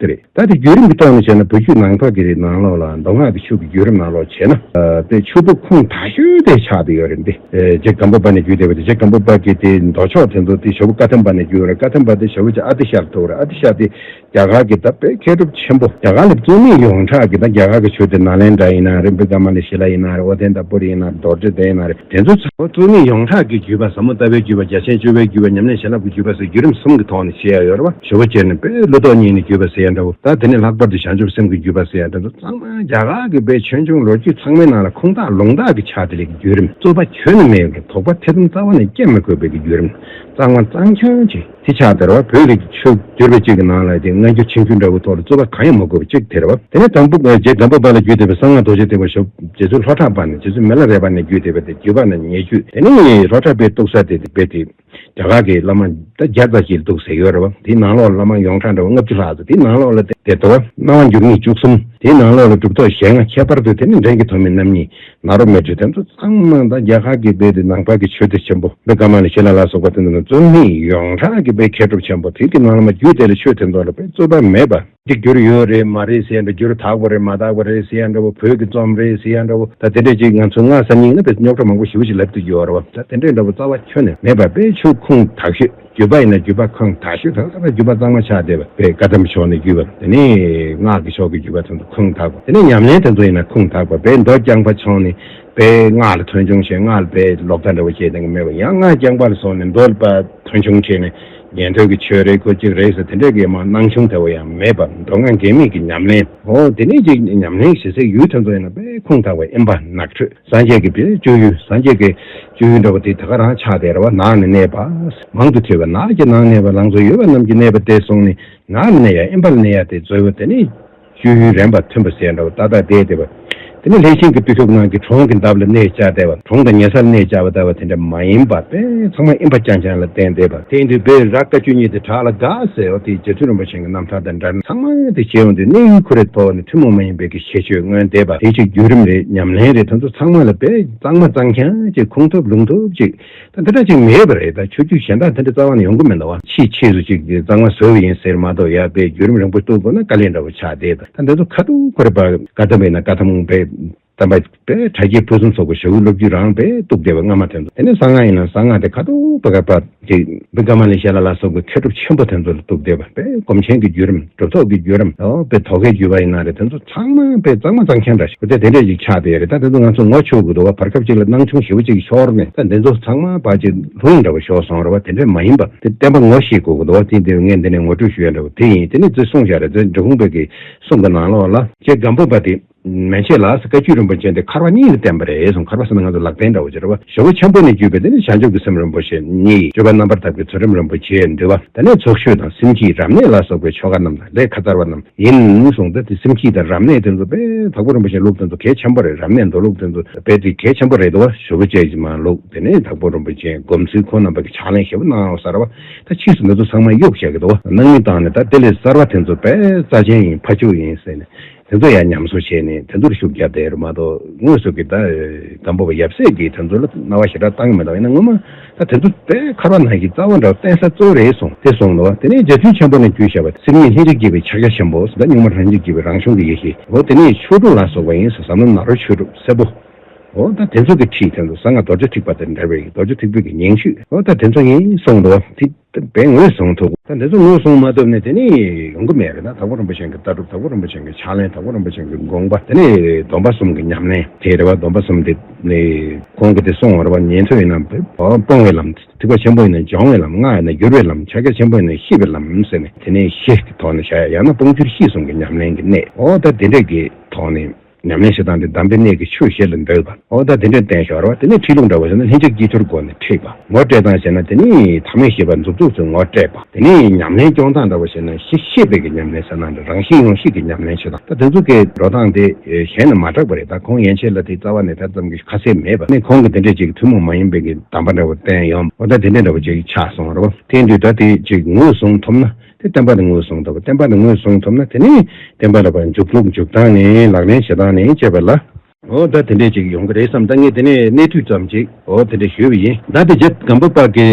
དེ་རེད་ད་དེ་བརྒྱུད་རིམ་གྱི་ཐོག་ནས་བྱས་ན་བོད་བརྒྱུད་ནང་ཐོག་གི་རེད་ནང་ལོགས་ལ་མདོ་སྔགས་ཀྱི་ཆོས་ཀྱི་བརྒྱུད་རིམ་ནང་ལོགས་བྱས་ན་དཔེ་ཆུ་བོ་ཁུངས་དག་ཤོས་དེ་ཆགས་དེ་ཡོད་རེད་དེ་རྗེ་སྒམ་པོ་པ་ནས་བརྒྱུད་དེ་བ་དེ་རྗེ་སྒམ་པོ་པ་གི་དེ་མདོ་ཕྱོགས་དེ་ཚོ་དེ་ཞོ་བོ་བཀའ་ཐེམ་པ་ནས་བརྒྱུད་རེད་བཀའ་ཐེམ་པ་དེ་ཞོ་བོ་ཆེ་ཨ་ཏི་ཤར་ཐུག་རེད་ཨ་ཏི་ཤར་དེ་རྒྱ་གར་གི་ད་དཔེ་མཁས་གྲུབ་ཆེན་པོ་རྒྱ་གར་ལ་བཙུན་མི་ཡོངས་གྲགས་ཀྱི་ད་རྒྱ་གར་གྱི་ཆོས་དེ་ནཱ་ལེནྡྲ་ཡིན་ན་རེ་འབི་ཀ་མ་ལེ་ཤི་ལ་ཡིན་ན་རེ་ཨོ་དན་དཱ་པུ་རི་ཡིན་ན་རེ་རྡོར་དྲིལ་དེ་ཡིན་ན་རེ། དེ་ཚོ་ཚང་མ་རྩོམ་ཡིག་ཡོངས་གྲགས་ཀྱི་བརྒྱུད་པ་ཟབ་མོ་ལྟ་བའི་བརྒྱུད་པ་རྒྱ་ཆེན་བཅུ་པའི་བརྒྱུད་པ་ཉམས་ལེན་བྱིན་རླབས་ཀྱི་བརྒྱུད་པ་སོགས་བརྒྱུད་རིམ་གསུམ་གྱི་ཐོག་ནས་བྱེད་ཡ་ཡོད་རེད་པ་ཞོ་བོ་རྒྱལ་ནས་དཔལ་ཀླུ་རྡོག་གཉིས་ནས་བརྒྱུད་པ་ཟེར་ཡ་འདྲ་བོ་ད་དེ་ནས་ལྷག་པར་དུ་བྱང་ཆུབ་སེམས་ཀྱི་བརྒྱུད་པ་ཟེར་ཡ་འདྲ་བོ་ཚང་མ་རྒྱ་གར་གྱི་དཔེ་ཆོས་འབྱུང་ལོ་རྒྱུས་ཚང་མའི་ནང་ལ་ཁུངས་དག་ལུང་དག་གི་ཕྱག་དེ་ལས་ཀྱི་བརྒྱུད་རིམ་རྩོད་པ་ཁྱོན་ནས་མེད་ཀྱང་དོགས་པ་ཐེ་ཚོམ་རྩ་བ་ནས་བསྐྱེད་མི་དགོས་པའི་བརྒྱུད་རིམ་གཙང་མ་གཙང་ཁྱོན་གྱི། ཚེ་ཕྱག་དེར་བ་བོད་རིགས་ཀྱི་ཆོས་བསྒྱུར་བའི་ཅིག་གི་ནང་ལ་དེ་སྔ་འགྱུར་ཕྱི་འགྱུར་འདྲ་བོ་ཐོག་ལ་རྩོད་པ་གང་ཡང་མ་དགོས་པ་ཅིག་དེར་བ། དེ་ནས་དང་པོ་རྗེ་སྒམ་པོ་པ་ལ་རྒྱུད་འདེབས་པའི་གསང་སྔགས་རྡོ་རྗེ་ཐེག་པ་ཞབས་རྗེ་བཙུན་ལྷོ་བྲག་པ་ནས་རྗེ་བཙུན་མེ་ལ་རས་པ་ནས་རྒྱུད་འདེབས་པ་དེ་བརྒྱུད་པ་ན་ཉེ་བརྒྱུད་དེ་ནི་ལྷོ་བྲག་པའི་གཏུགས་ས་དེ་དེ་བེད་དེ་རྒྱ་གར་གྱི་བླ་མ་ད་བརྒྱ་རྩ་གཅིག་ལ་གཏུགས་ཟེར་ཡོད་རེད་བ་དེའི་ནང་ལོགས་ལ་བླ་མ་ཡོངས་གྲགས་འདྲ་བ་ལྔ་བཅུ་ལྷག་ཚོ་དེའི་ནང་ལོགས་ལ་དེར་དོ་བ་སྣང་བ་འགྱུར་ངེས་བཅུ་གསུམ་དེའི་ནང་ལོགས་ལ་གྲུབ་ཐོག་ཞལ་སྔ་ཁྱད་པར་དུ་དེ་ནི་འདྲེན་གྱི་ཐོག་མའི་རྣམ་གཉིས་ང་རོ་མེད་ཆོས་དེ་ཚོ་ཚང་མ་ནང་བསྟན་རྒྱ་གར་གྱི་དཔེ་དེ་ནང་པ་གི་ཆོས་དེ་ཆེན་པོ་དཔེ་ཀ་མ་ལ་ཤི་ལ་ལ་སོགས་པ་དེ་ཚོ་ནི་རྩོམ་ཡིན་ཡོངས་གྲགས་ཀྱི་དཔེ་མཁས་གྲུབ་ཆེན་པོ་དེ་གི་ནང་ལ་མ་རྒྱུད་དེ་ལ་ཆོས་དེ་ཚོ་ལ་དཔེ་རྩོད་པ་མེད་པ། འདི་འགྱུར་ཡོད་རེད་མ་རེད་ཟེར་ཡ་འདྲ་འགྱུར་དག་པ་རེད་མ་དག་པ་རེད་ཟེར་ཡ་འདྲ་བོ་བོད་ཀྱི་རྩོམ་རེད་ཟེར་ཡ་འདྲ་བོ་ད་དེ་འདྲ་ཅིག་ང་ཚོའི་སྔ་ས་སྙིང་ན་དཔེ་རྙོག་གྲ་མང་པོ་ཞི་བོ་ཞིག་ལབ་ཏུ་ཡོད་རེད་བ་ད་དེ་འདྲ་འདྲ་བོ་རྩ་བ་ཁྱོན་ནས་མེད་པ་དཔེ་ཆོས་ཁུངས་དག་ཤོས། བརྒྱུད་པ་ཡིན་ན་བརྒྱུད་པ་ཁང་དག་ཞུ་དང་ས་པ་བརྒྱུད་པ་གཙང་མ་ཆགས་བསྡད་པ་དེ་བཀའ་གདམས་ཕྱོགས་ནས་བརྒྱུད་པ་དེ་ནས་སྔགས་ཀྱི་ཕྱོགས་ཀྱི་བརྒྱུད་པ་དེ་ཚོ་ཁང་དག་པ་དེ་ནས་ཉམས་ལེན་དེ་ཚོ་ཡིན་ན་ཁང་དག་པ་བས་མདོ་རྐྱང་པ་ཕྱོགས་ནས་བས་སྔགས་ལ་དོན་ཆུང་བྱས་སྔགས་ལ་བས་ལོག་ལྟ་འདྲ་བོ་བྱས་དེ་འགའ་མེད་པ་ཡང་སྔགས་རྐྱང་པ་ལ་སོགས་ནས་མདོ་ལ་བས་དོན་ཆུང་བྱས་ནས་ཉན་ཐོས་ཀྱི་ཆོས་རེ་ཁོ་གཅིག་རེད་ཟེར་དེ་འདྲའི་འགས་མ་གནང་ཆུང་དེ་བ་ཡང་མེད་པ་མདོ་སྔགས་འགལ་མེད་ཀྱི་ཉམས་ལེན། འོ་དེ་ནས་ཀྱི་ཉམས་ལེན་བྱེད་སའི་ཡུལ་དེ་ཚོ་ཡིན་ན་བས་ཁང་དག་པ་ཨེ་འབའ་ནགས་ཁྲོད། སངས་རྒྱས་ཀྱི་སྤྱོད་ཡུལ་སངས་རྒྱས་ཀྱི་སྤྱོད་ཡུལ་འདྲ་བ་དེ་དེ་ག་རང་ཆགས་དེ་ར་བ་ནགས་ནས་གནས་པ། མང་དུ་ཐོས་པ་ནགས་ཀྱི་ནང་གནས་པ་ལང་ཚོ་ཡོད་པ་རྣམས་ཀྱི་གནས་པ་དེ་སོང་ནས་ནགས་ལ་གནས་ཡ་ཨེ་འབའ་ལ་གནས་ཡ་དེ་རྫོལ་བ་དེ་ནི། སྤྱོད་ཡུལ་རན་པ་ཐོན་པ་ཟས་འདྲ་བ་ཏག་ཏག་དེ་དེ་བ། དེ་ནི་ལྷས་བྱིན་གྱི་བརྟུལ་ཞུགས་ནང་གི་གྲོང་གི་འདབ་ལ་གནས་བཅའ་དེ་བ་གྲོང་དང་ཉེ་སར་གནས་བཅའ་བ་ད་བ་དེ་འདྲ་མ་ཡིན་པ་པས་ཚང་མ་ཨེ་འབའ་ཅང་ཅང་ལ་བརྟེན་དེ་བ། དེ་འདི་བས་ར་བཀའ་བཅུ་གཉིས་དེ་བྲག་ལ་དགའ་ཟེར་བ་དེ་རྗེ་བཙུན་རིན་པོ་ཆེ། རྣམ་ཐར་དང་འདྲ་ན་ཚང་མ་དེ་བྱེད་འོང་དུས་གནས་ཡུལ་ཁོ་རེ་ཐོག་ནས་ཐུན་མོང་མ་ཡིན་པའི་གི་ཁྱད་ཆོས་མངོན་འདེད་པ་དེ་ཆོས་བརྒྱུད་རིམ་རེད་ཉམས་ལེན་རེད་ད་ཚོ་ཚང་མ་ལ་དཔེ་གཙང་མ་གཙང་ཁྱང་ཅིག་ཁུངས་ཐུབ་ལུང་ཐུབ་ཅིག་ད་འདི་འདྲ་ཅིག་མེད་པ་རེད་ད་ཆོས་བརྒྱུད་གཞན་དག་དེ་འདྲ་རྩ་བ་ནས་ཡོང་གི་མེད་ད་བ་ཕྱིས་ཕྱིས་སུ་ཅིག་དེ་གཙང་མ་བཟོ་གི་ཡིན་ཟེར་མ་གཏོགས་ཡ་དཔེ་བརྒྱུད་རིམ་རིང་པོ་གཏུག་དགོས་ན་དཀའ་ལས་འདྲ་བོ་ཆགས་བསྡད་ད་འདི་ཚོ་ཁ་ཐུག་ཁོ་རེ་བ་དཀའ་ཐབས་མེད་ན་དཀའ་ཐབས་མང་པས། རྩམ་པ། དྲ་རྒྱའི་ཕུན་སུམ་ཚོགས་པའི་ཞྭ་དབུས་སློབ་བརྒྱུད་རང་དཔེ་གཏུགས་བསྡད་པའི་སྔ་མ་དེ་ཚོ་དེ་ནི་གསང་སྔགས་ཡིན་ལ་གསང་སྔགས་དེ་ཁ་ཐུག་པ་ཁ་བི་ཀ་མ་ལེ་ཤཱི་ལ་ལ་སོགས་པའི་མཁས་གྲུབ་ཆེན་པོ་དེ་ཚོ་ལ་གཏུགས་བསྡད་པ་དཔེ་སྒོམ་ཆེན་གྱི་བརྒྱུད་རིམ་གྲུབ་ཐོབ་ཀྱི་བརྒྱུད་རིམ་དཔེ་དོ་གའི་བརྒྱུད་པ་ཡིན་ན་རེད་དེ་ཚོ་ཚང་མ་དཔེ་གཙང་མ་གཙང་མཁན་འདྲ་ཞིག་དེ་འདྲས་ཅིག་ཆགས་བསྡད་རེད་ད་དེ་ཚོ་ང་ཚོ་ངོ་ཆོད་དགོས་འདུག་བ་བར་སྐབས་ཅིག་ལ་སྣང་ཆུང་ཞེ་བོ་ཅིག་གི་ཞོར་ནས་ད་འདི་ཚོ་ཚང་མ་བ་ཅིག་ལྷུང་འདྲ་བ་ཞོག་སོང་རེད་བ་དེ་འདྲས་མ་ཡིན་པ་དེ་བསྟན་པ་ངོ་ཤེས་དགོས་འདུག་བ་དེ་དེ་ངས་འདི་ནས་ངོ་སྤྲོད་ཞུ་ཡ་འདྲ་བ་དེ་ཡིན་དེ་ནི་རྫུན་གསུངས་བཞག་རེད་རྫུན་འབྲི་ཁུང་བོད་ཀྱི་གསུང་གི་ནང་ལོགས་ལ། ཅེས་སྒམ་པོ་པ་དེས། མན་ཆད་ལ་བཀའ་བརྒྱུད་རིན་པོ་ཆེ་འདི་འཁར་བ་གཉིས་ལ་བསྟན་པ་རེད་གསུངས་འཁར་བ་ཟེར་ན་ང་ཚོ་ལག་བསྟན་འདྲ་བོ་སྦྱོར་བ་ཞོ་བོ་ཆེན་པོ་ནས་བརྒྱུད་པའི་དེ་ནས་བྱང་ཆུབ་ཀྱི་སེམས་རིན་པོ་ཆེ་གཉིས་བརྗོད་པ་རྣམ་པར་དག་པའི་ཚུལ་རིམ་རིན་པོ་ཆེ་འདུལ་བ་དེ་ནས་ཚོགས་ཤོས་དང་སེམས་སྐྱིད་རབ་གནས་ལ་སོགས་པའི་ཆོ་ག་རྣམས་དང་ལས་ཁ་ཚར་བ་རྣམས་ཡིན་གསུངས་ཏེ་དེ་སེམས་སྐྱིད་དང་རབ་གནས་དེ་ཚོ་དཔེ་དག་པོ་རིན་པོ་ཆེན་ལུགས་དེ་ཚོ་གལ་ཆེན་པོ་རེད་རབ་གནས་མདོ་ལུགས་དེ་ཚོ་དཔེ་དེ་གལ་ཆེན་པོ་རེད་དོ་ཞོ་བོ་ཆེ་མ་ལུགས་དེ་ནས་དག་པོ་རིན་པོ་ཆེན་སྒོམ་ཚུལ་ཁོ་ན་བར་གྱི་ཕྱག་ལེན་ཞེ་བོ་སྣང་བ་གསར་བ་ད་ཕྱིས་སུ་མི་ཚོ་ཚང་མ་གཡུག་བྱེད་ཀྱི་འདུག་སྣང་མི་བཏང་ནས་ད་དེ་ལས་གསར་བ་དེ་ཚོ་དཔེ་རྩ་ཆེན་ཡིན་ཕ་ཕྱུག་ཡིན་ཟེར་ནས། དེ་ཚོ་ཡང་ཉམས་གསོ་བྱས་ནས་དེ་ཚོར་ཤུགས་རྒྱབ་དེ་རུ་མ་གཏོགས་དངོས་སུ་གི་ད་དམ་པོ་བ་ཡབ་སྲས་ཀྱིས་དེ་ཚོ་ལ་རྣ་བ་ཞེ་དྲག་བཏང་གི་མི་འདུག་ཡིན་ན་སྔོན་མ་ད་དེ་ཚོ་དེ་ཁར་བ་ནང་གི་རྩ་བ་འདྲ་བརྟེན་ས་གཙོ་རེད་གསུངས་ཏེ་སོང་ནོ་དེ་ནས་རྗེ་བཙུན་ཆེན་པོ་ནས་རྒྱུད་བཤད་པ་སེམས་ཉིད་ལྷན་ཅིག་སྐྱེས་པའི་ཕྱག་རྒྱ་ཆེན་པོ་ཟླ་སྨྱུག་མ་ལྷན་ཅིག་སྐྱེས་པའི་རང་བྱུང་གི་ཡེ་ཤེས་འོ་དེ་ནས་ཆོས་དྲུག་ལ་སོགས་པ་ཡིན་ཟེར་ཟབ་མོ་ནཱ་རོ་ཆོས་དྲུག་སེར་པོ་འོ་ད་དེ་ཚོ་གི་ཁྲིད་དེ་ཚོ་གཟའ་ལྔ་རྡོ་རྗེ་ཐིགས་པ་དེར་འདྲ་བའི་རྡོ་རྗེ་ཐིགས་བུ་གི་ཉིང་བཅུད་འོ་ད་དེ་ཚོ་ཡིན་གསུངས་ཏོ་དེ། བས་ངོས་བཟུང་ཐུབ། ད་འདི་ཚོ་ངོས་བཟུང་མ་ཐུབ་ནས་དེ་ནི་ཡོང་གི་མེད་རེད་ན་དྭགས་པོ་རིན་པོ་ཆེན་གྱི་ལྟ་གྲུབ་དྭགས་པོ་རིན་པོ་ཆེན་གྱི་ཕྱག་ལེན་དྭགས་པོ་རིན་པོ་ཆེན་གྱི་དགོངས་པ་དེ་ནི་སྡོམ་པ་གསུམ་གྱི་ཉམས་ལེན་དེ་རེད་བ་སྡོམ་པ་གསུམ་དེ་ནི་གོང་གི་དེ་སོང་བར་བ་ཉན་ཐོས་ཡིན་ནམ་སྤོང་བའི་ལམ་ཐིགས་པ་ཆེན་པོ་ཡིན་ནམ་སྦྱོང་བའི་ལམ་སྔགས་ཡིན་ནམ་བསྒྱུར་བའི་ལམ་ཕྱག་རྒྱ་ཆེན་པོ་ཡིན་ནམ་ཤེས་པའི་ལམ་ཟེར་ནས་དེ་ནི་བཞི་གི་ཐོག་ནས་བཞག་ཡ་ཡང་ན་སྤོང་བསྒྱུར་ཤེས་གསུམ་གྱི་ཉམས་ལེན་གྱི་གནད་འོག་ད་དེ་འདྲས་ཀྱི་ཐོག་ནས། ཉམས་ལེན་བྱེད་སྟངས་དེ་གདམས་པའི་གནད་ཀྱི་ཆོས་བཞི་ལ་འདོད་པ། འོ་ད་དེ་འདྲའི་བསྟན་ཞོར་བ་དེ་ནི་འཁྲིད་ལུགས་འདྲ་བོ་བྱས་ན་ལྷན་སྐྱེས་དཀྱིལ་འཁོར་སྒོ་ནས་འཁྲིད་པ། ངོ་སྤྲད་སྟངས་བྱས་ན་དེ་ནི་ཐ་མའི་ཤེས་པ་མཛུབ་ཚུགས་སུ་ངོ་སྤྲད་པ། དེ་ནི་ཉམས་ལེན་སྐྱོང་སྟངས་འདྲ་བོ་བྱས་ན་གཞི་ཤེས་དཔལ་གྱི་ཉམས་ལེན་ཟེར་ནའང་འདྲ་རང་བཞིན་ཡོངས་ཤེས་ཀྱི་ཉམས་ལེན་བྱེད་སྟངས་ད་དེ་ཚོ་གའི་འགྲོ་སྟངས་དེ་གཞན་ལ་མ་གྲགས་པ་རེད་ད་ཁོང་ཡན་ཆད་ལ་དེའི་རྩ་བ་ནས་དེ་ཙམ་གྱི་ཁ་གསལ་མེད་པ་ནི་ཁོང་གིས་དེ་འདྲའི་ཅིག་ཐུན་མོང་མ་ཡིན་པའི་གདམས་པ་འདྲ་བོ་བསྟན་ཡོང་འོ་ད་དེ་འདྲའི་འདྲ་བོ་ཅིག་ཆགས་སོང་རོགས། དེ་འདུས་ད་དེ་ཅིག་ངོས་བཟུང་ཐུབ་ན། དེ་བསྟན་པ་ནི་ངོས་བཟུང་ཐུབ། བསྟན་པ་ནི་ངོས་བཟུང་ཐུབ་ན་དེ་ནི་བསྟན་པ་ལ་བར་འཇུག་ལུགས་འཇུག་སྟངས་ནི་ལག་ལེན་བྱེད་སྟངས་ནི་དཔྱད་པ་ལ། འོ་ད་དེ་འདྲས་ཅིག་ཡོང་གི་རེད་བསམ་ད་ངས་དེ་ནས་གནས་དུས་ཙམ་ཅིག་འོ་དེ་འདྲས་ཞུས་པ་ཡིན། ད་དེ་རྗེ་སྒམ་པོ་དཔག་གི་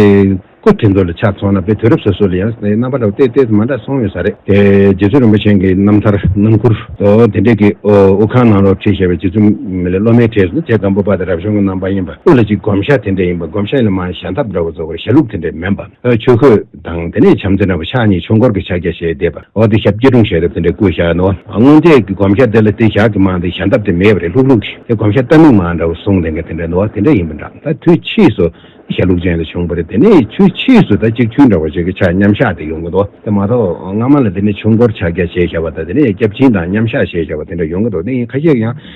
སྐུ་དེ་ཚོ་ལ་ཆ་མཚོན་ན་དཔེ་དུས་རབས་སོ་སོ་ལ་ཡང་དེ་རྣམ་པ་འདྲ་བོ་སྟེ་སྟེ་མ་འདྲ་སོང་ཡོད་ས་རེད། དེ་རྗེ་བཙུན་རིན་པོ་ཆེན་གྱི་རྣམ་ཐར་རྣམ་མགུར་འོ་དེ་འདྲས་ཀྱི་འོ་དབུ་ཁང་ནང་སློབ་ཁྲིད་བྱས་པའི་རྗེ་བཙུན་མི་ལའི་སློབ་མའི་གྲས་སུ་རྗེ་སྒམ་པོ་དཔག་དེ་རབ་བྱུང་གི་རྣམ་པ་ཡིན་པ་དབུ་ལ་གཅིག་བསྒོམ་བྱ་དེ་འདྲས་ཡིན་པ་སྒོམ་བྱ་ཡིན་ལ་མ་ཞལ་འདབ་འདྲ་བོ་བཙོ་བར་བྱ་ལུགས་དེ་འདྲས་མིན་པ་ཆོས་གོས། དང། དེ་ནས་བྱམས་བརྩེ་ནོར་བུ་ཕྱག་གཉིས་ཆོས་འཁོར་གྱི་ཕྱག་རྒྱ་ཞེས་བཟླས་པ། འོག་ཏུ་ཞབས་སྐྱེས་དྲུང་བཞེས་རབ་ཏུ་འདྲེས་བསྐུལ་བྱ་བ། སྔོན་ཆད་ཀྱི་བསྒོམ་བྱ་དེ་ལ་དེ་བཞག་གི་མ་འདི་ཞལ་འདབ་དེ་མེད་པ་རེད་ལྷུག་ལྷུག་གི་དེ་བསྒོམ་བྱ་རྟ་རྨིག་མ་འདྲ་བོ་གཟུང་དེ་འགས་དེ་འདྲ་ནོ་དེ་འདྲ་ཡིན་པ་འདྲ་ད་དུས་ཕྱིས་སུ་དེ་ཞལ་ལུགས་ཅན་དུ་བྱུང་བ་རེད་དེ་ནས་དུས་ཕྱིས་སུ་ད་གཅིག་ཆུན་འདྲ་བ་ཞིག་གི་ཕྱག་མཉམ་བཞག་དེ་ཡོང་གི་འདུག་དེ་མ་གཏོགས་སྔ་མ་ལ་དེ་ནས་ཆོས་འཁོར་ཕྱག་རྒྱ་ཞེས་བྱ་བ་དང་དེ་ནས་སྐྱབས་སྦྱིན་དང་མཉམ་བཞག་ཞེས་བྱ་བ་དེ་འདྲ་ཡོང་གི་འདུག་དེ་ཡིན་ཁ་ཤས་ཀྱང།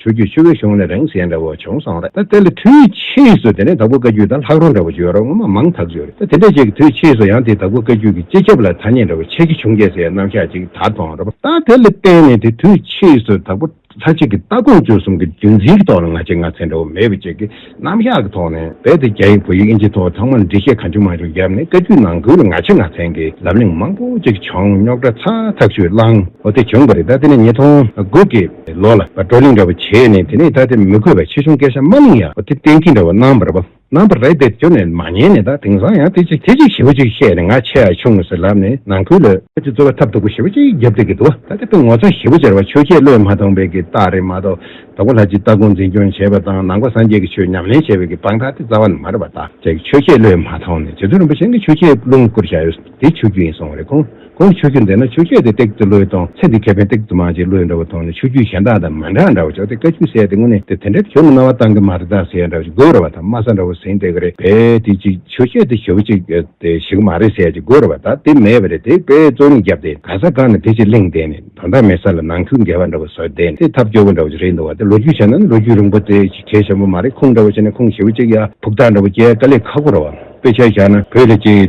ཆུ་རྒྱུས་ཆུ་བོའི་གཞུང་ལས་རང་གཞན་འདྲ་བོ་བྱུང་སོང་རེད་ད་དེ་ལ་དུས་ཕྱིས་སུ་དེ་ནས་དྭགས་པོ་བཀའ་རྒྱུད་དང་ལྷག་རོ་འདྲ་བོ་བརྗོད་རོགས་ངོ་མ་མང་དག་བརྗོད་རེད་ད་དེ་འདྲ་ཅིག་དུས་ཕྱིས་སུ་ཡང་དེ་དྭགས་པོ་བཀའ་རྒྱུད་ཀྱི་སྤྱི་ཁྱབ་ལ་ཐ་སྙད་འདྲ་བོ་ཆགས་ཀྱི་བྱུང་སྐད་ཟེར་རྣམ་གཞག་ཅིག་ད་དོང་རེད་ད་དེ་ལ་བརྟེན་ནས་དེ་དུས་ཕྱིས་སུ་དྭགས་པོ་ལྷ་གཅིག་གི་ལྟ་དགོངས་བཅུ་གསུམ་གྱི་རྒྱུ་མཚན་གྱི་ཐོག་ལ་ང་ཆེ་ང་ཚེ་འདྲ་བོ་མེད་པ་ཅིག་གིས་རྣམ་གཞག་གི་ཐོག་ནས་རྦད་དེ་རྒྱ་ཡིག་བོད་ཡིག་ཨིན་ཇིའི་ཐོག་ཚང་མར་འབྲི་བཤད་གང་བྱུང་མང་བྱུང་བརྒྱབ་ནས་བཀའ་བརྒྱུད་ནང་ཁུལ་ལ་ང་ཆེ་ང་མཚན་གྱི་ལབ་གླེང་མང་པོ་ཅིག་བྱུང་རྙོག་དྲ་ཚ་ཐག་ཆོད་བསླང། འོ་དེ་བྱུང་གི་རེད་ད་དེ་ནས་ཉིས་སྟོང་དགུ་གི་ལོ་ལ་བགྲོ་གླེང་འདྲ་བོ་བྱས་ནས་དེ་ནས་ད་དེ་མི་གོ་བའི་ཆེ་ཆུང་སྐད་ཆ་མ་གླེང་ཡ་འོ་དེ་གཏན་ཁེལ་འདྲ་བོ་གནང་བར་བ་གནང་བར་རེད་དེ་ཁྱོད་ནས་མ་ཉན་ནས་ད་དེང་སང་ཡང་དེ་ཅིག་དེ་ཅིག་ཞེ་བོ་ཅིག་བཤད་ནས་ང་ཆེ་ཡ་ཆུང་ངུ་ཟེར་ལབ་ནས་ནང་ཁུལ་ལ། ཁྱོད་ཀྱི་རྩོད་པ་ཐབས་སྡུག་པོ་ཞེ་བོ་ཅིག་བརྒྱབ་སྡོད་ཀྱི་འདུག་བ་ད་དེ་དཔེ་ངོ་ཚ་ཞེ་བོ་ཅར་བ་ཆོས་རྒྱལ་བློས་མ་ཐོངས་པའི་གི་རྟགས་རེད་མ་གཏོགས་དང་པོ་ལྷ་སྤྱི་ལྟ་སྐོང་འཛིན་སྐྱོང་བྱེད་པ་དང་ནང་པ་སངས་རྒྱས་ཀྱི་ཆོས་ཉམས་ལེན་བྱེད་པའི་གི་སྤང་དག་སྟེ་རྩ་བ་ནི་མ་རེད་པ་བདག་ཅག་གི་ཆོས་ཁས་བློས་མ་ཐོངས་ནས་རྗེ་བཙུན་རིན་པོ་ཆེན་གྱི་ཆོས་ཁས་བླུན་བསྐུར་བྱ་ཡོད་དེ་ཆོས་རྒྱུད་ཡིན་སོང་བ་རེད་ཁོང་གིས་ཆོས་རྒྱུད་འདི་ན་ཆོས་ཁས་དེ་སྟེགས་དེ་བློས་ཐོངས་ཚེ་འདི་ཁས་ཕན་སྟེགས་དུ་མ་ཅིག་བློས་འདྲ་བ་ཐོངས་ནས་ཆོས་རྒྱུད་གཞན་དག་དང་མ་འདྲ་འདྲ་བ་ཅོག་དེ་བཀའ་རྒྱུད་གསལ་དེ་དངོས་གནས་དེ་དེ་འདྲ་གྱོ་མི་སྣང་བ་བཏང་གི་མ་རེད་དག་ཟེར་འདྲ་བ་ཅིག་དགོས་རེད་བ་དང་སྨྲ་ས་འདྲ་བོ་ཟིན་དེ་ག་རེད་བས་དེ་ཅིག་ཆོས་ཁས་དེ་གྱོ་བ་ཅིག་དེ་ཞིག་མ་རེད་ཟེར་ཅིག་དགོས་རེད་བ་དག་དེ་མེད་བ་རེད་དེ་བས་རྩོད་རྙིང་བརྒྱབ་སྟེ་ག་ས་གང་ནས་དེ་ཅིག་གླེང་བསྡད་ནས། ད་ལྟ་མེད་ས་ལ་ནང་ཁུལ་འགལ་བ་འདྲ་བོ་བཟོས་བསྡད་ནས་ཐབས་སྐྱོ་བོ་འདྲ་བོ་ཞིག་རེད་འདུག་བ་དེ་ལོ་རྒྱུས་བྱས་ན་ནི་ལོ་རྒྱུས་རིང་པོ་དེ་ཞིག་གལ་ཆེན་པོ་མ་རེད་ཁུངས་འདྲ་བོ་བྱས་ནས་ཁུངས་ཞེ་བོ་གཅིག་ཡ་ཕུག་ཐག་འདྲ་བོ་རྒྱལ་དཀའ་ལས་ཁག་པོ་རེད་བ་དཔེ་ཆ་བཞག་ན་བོད་ལ་སྐྱེ་ཡི་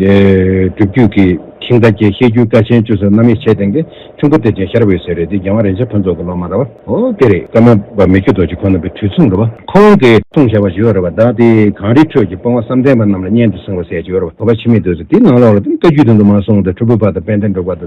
གྲུབ་བརྒྱུད་ཀྱི་ཁྱིམ་བདག་རྒྱལ་བཤད་རྒྱུད་བཀའ་ཆེན་བཅུ་སོགས་རྣམ་དབྱེ་ཕྱེད་སྟེང་དེ་ཁྱུང་པོ་སྟེར་ཅན་ཤར་བས་ཟེར་རེད་དེ་རྒྱལ་དབང་རིན་ཆེན་ཕུན་ཚོགས་ཀྱི་སློབ་མ་རེད་བ་ཨོ་དེ་རེད་བཀའ་མ་པ་མི་ཁྱུ་རྡོ་རྗེ་ཁོ་ན་པའི་དུས་མཚུངས་རེད་བ་ཁོང་གི་ཁུངས་བཞག་པ་ཞིག་ཡོད་རེད་བ་བདག་དེ་གངས་རིའི་ཁྲོད་ཀྱི་སྤོང་བ་བསམ་གཏན་པ་རྣམས་ལ་སྙན་དུ་གསུང་བ་ཟེར་ཅིག་ཡོད་རེད་བ་བོད་པ་ཕྱི་མིས་བསྡུས་ཚེ་དེའི་ནང་ལོགས་ལ་དེ་ནི་བཀའ་རྒྱུད་དུ་འདུག་མ་གསུངས་དེ་ཁྲོ་ཕུ་པ་དང་དཔལ་ལྡན་འབྲུག་པ་དང།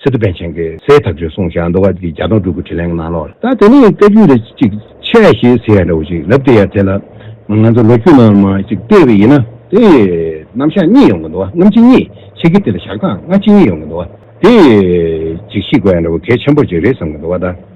སི་ཏུ་པན་ཆེན་གྱིས་སའི་ཐབས་ཇུས་གསུང་བྱས་མདོ་སྔགས་ཀྱི་བརྒྱ་སྟོང་དྲུག་གི་དྲིས་ལན་གནང་ལོ། ད་དེ་ནས་བཀའ་རྒྱུད་འདི་གཅིག་ཆད་ཞེས་ཟེར་ཡ་འདྲ་བོ་ཞིག་ལབ་སྟེ་ཡར་ཐལ། ང་ཚོ་ལོ་རྒྱུས་ནང་མ་གཅིག་བལྟས་པ་ཡིན་ན་དེ་རྣམ་གཞག་གཉིས་ཡོང་གི་འདུག་རྣམ་གཅིག་གཉིས་ཆེ་གི་དེ་ལ་བཞག་སྟངས་སྔ་ཕྱི་གཉིས་ཡོང་གི་འདུག་དེ་གཅིག་ཤི་དགོས་ཡ་འདྲ་བོ་གལ་ཆེན་པོ་གཅིག་རེད་བསམ་གི་འདུག་བ་ད།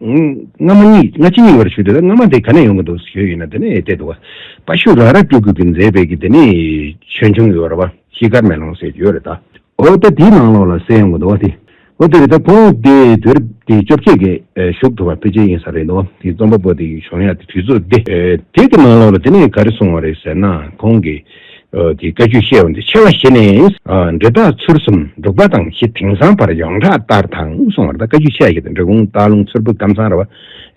སྔ་མ་གཉིས་སྔ་ཕྱི་གཉིས་བར་ཞུ་དེ་སྔ་མ་དེ་ག་ནས་ཡོང་གི་འདུག་ཞུས་ཡོད་ན་དེ་ནས་བལྟས་འདུག་བ་པ་ཤུ་ར་ར་སྤྲུལ་སྐུ་གི་མཛད་པའི་གི་དེ་ནས་ཆོས་འབྱུང་ཡོད་ར་བ་ཤི་དཀར་མེ་ལོང་ཟེར་གྱི་ཡོད་རེད་ད། འོ་ད་དེའི་ནང་ལོགས་ལ་གསལ་ཡོང་གི་འདུག་བ་དེ་འོ་དེ་རེད་ད་ཁོང་དེ་དུས་རབས་དེ་བཅོ་བརྒྱད་ཀའི་གཞུག་ཐུབ་བ་ཕལ་ཆེར་ཡིན་ས་རེད་འདུག་བ་དེ་རྩོམ་པ་པོ་དེ་གི་བྱུང་ཡ་དེ་དུས་ཚོད་དེ་དེའི་ནང་ལོགས་ལ་དེ་ནས་ག་རེ་སོང་བ་རེད་ཟེར་ན་ཁོང་གི་གི་བཀའ་རྒྱུད་བཤད་བ་འདི་ཆེ་བ་བཞི་ནི། འབྲེལ་རྟགས་ཚུར་གསུམ་འབྲུག་པ་དང་བཞི་དེང་སང་བར་ཡོངས་གྲགས་ལྟར་དང་གསུང་བར་ད་བཀའ་རྒྱུད་ཆེ་བ་བཞི་དང་འབྲེལ་གུང་ཐང་ལུང་ཚུར་བུ་སྐམ་ཚང་ར་བ་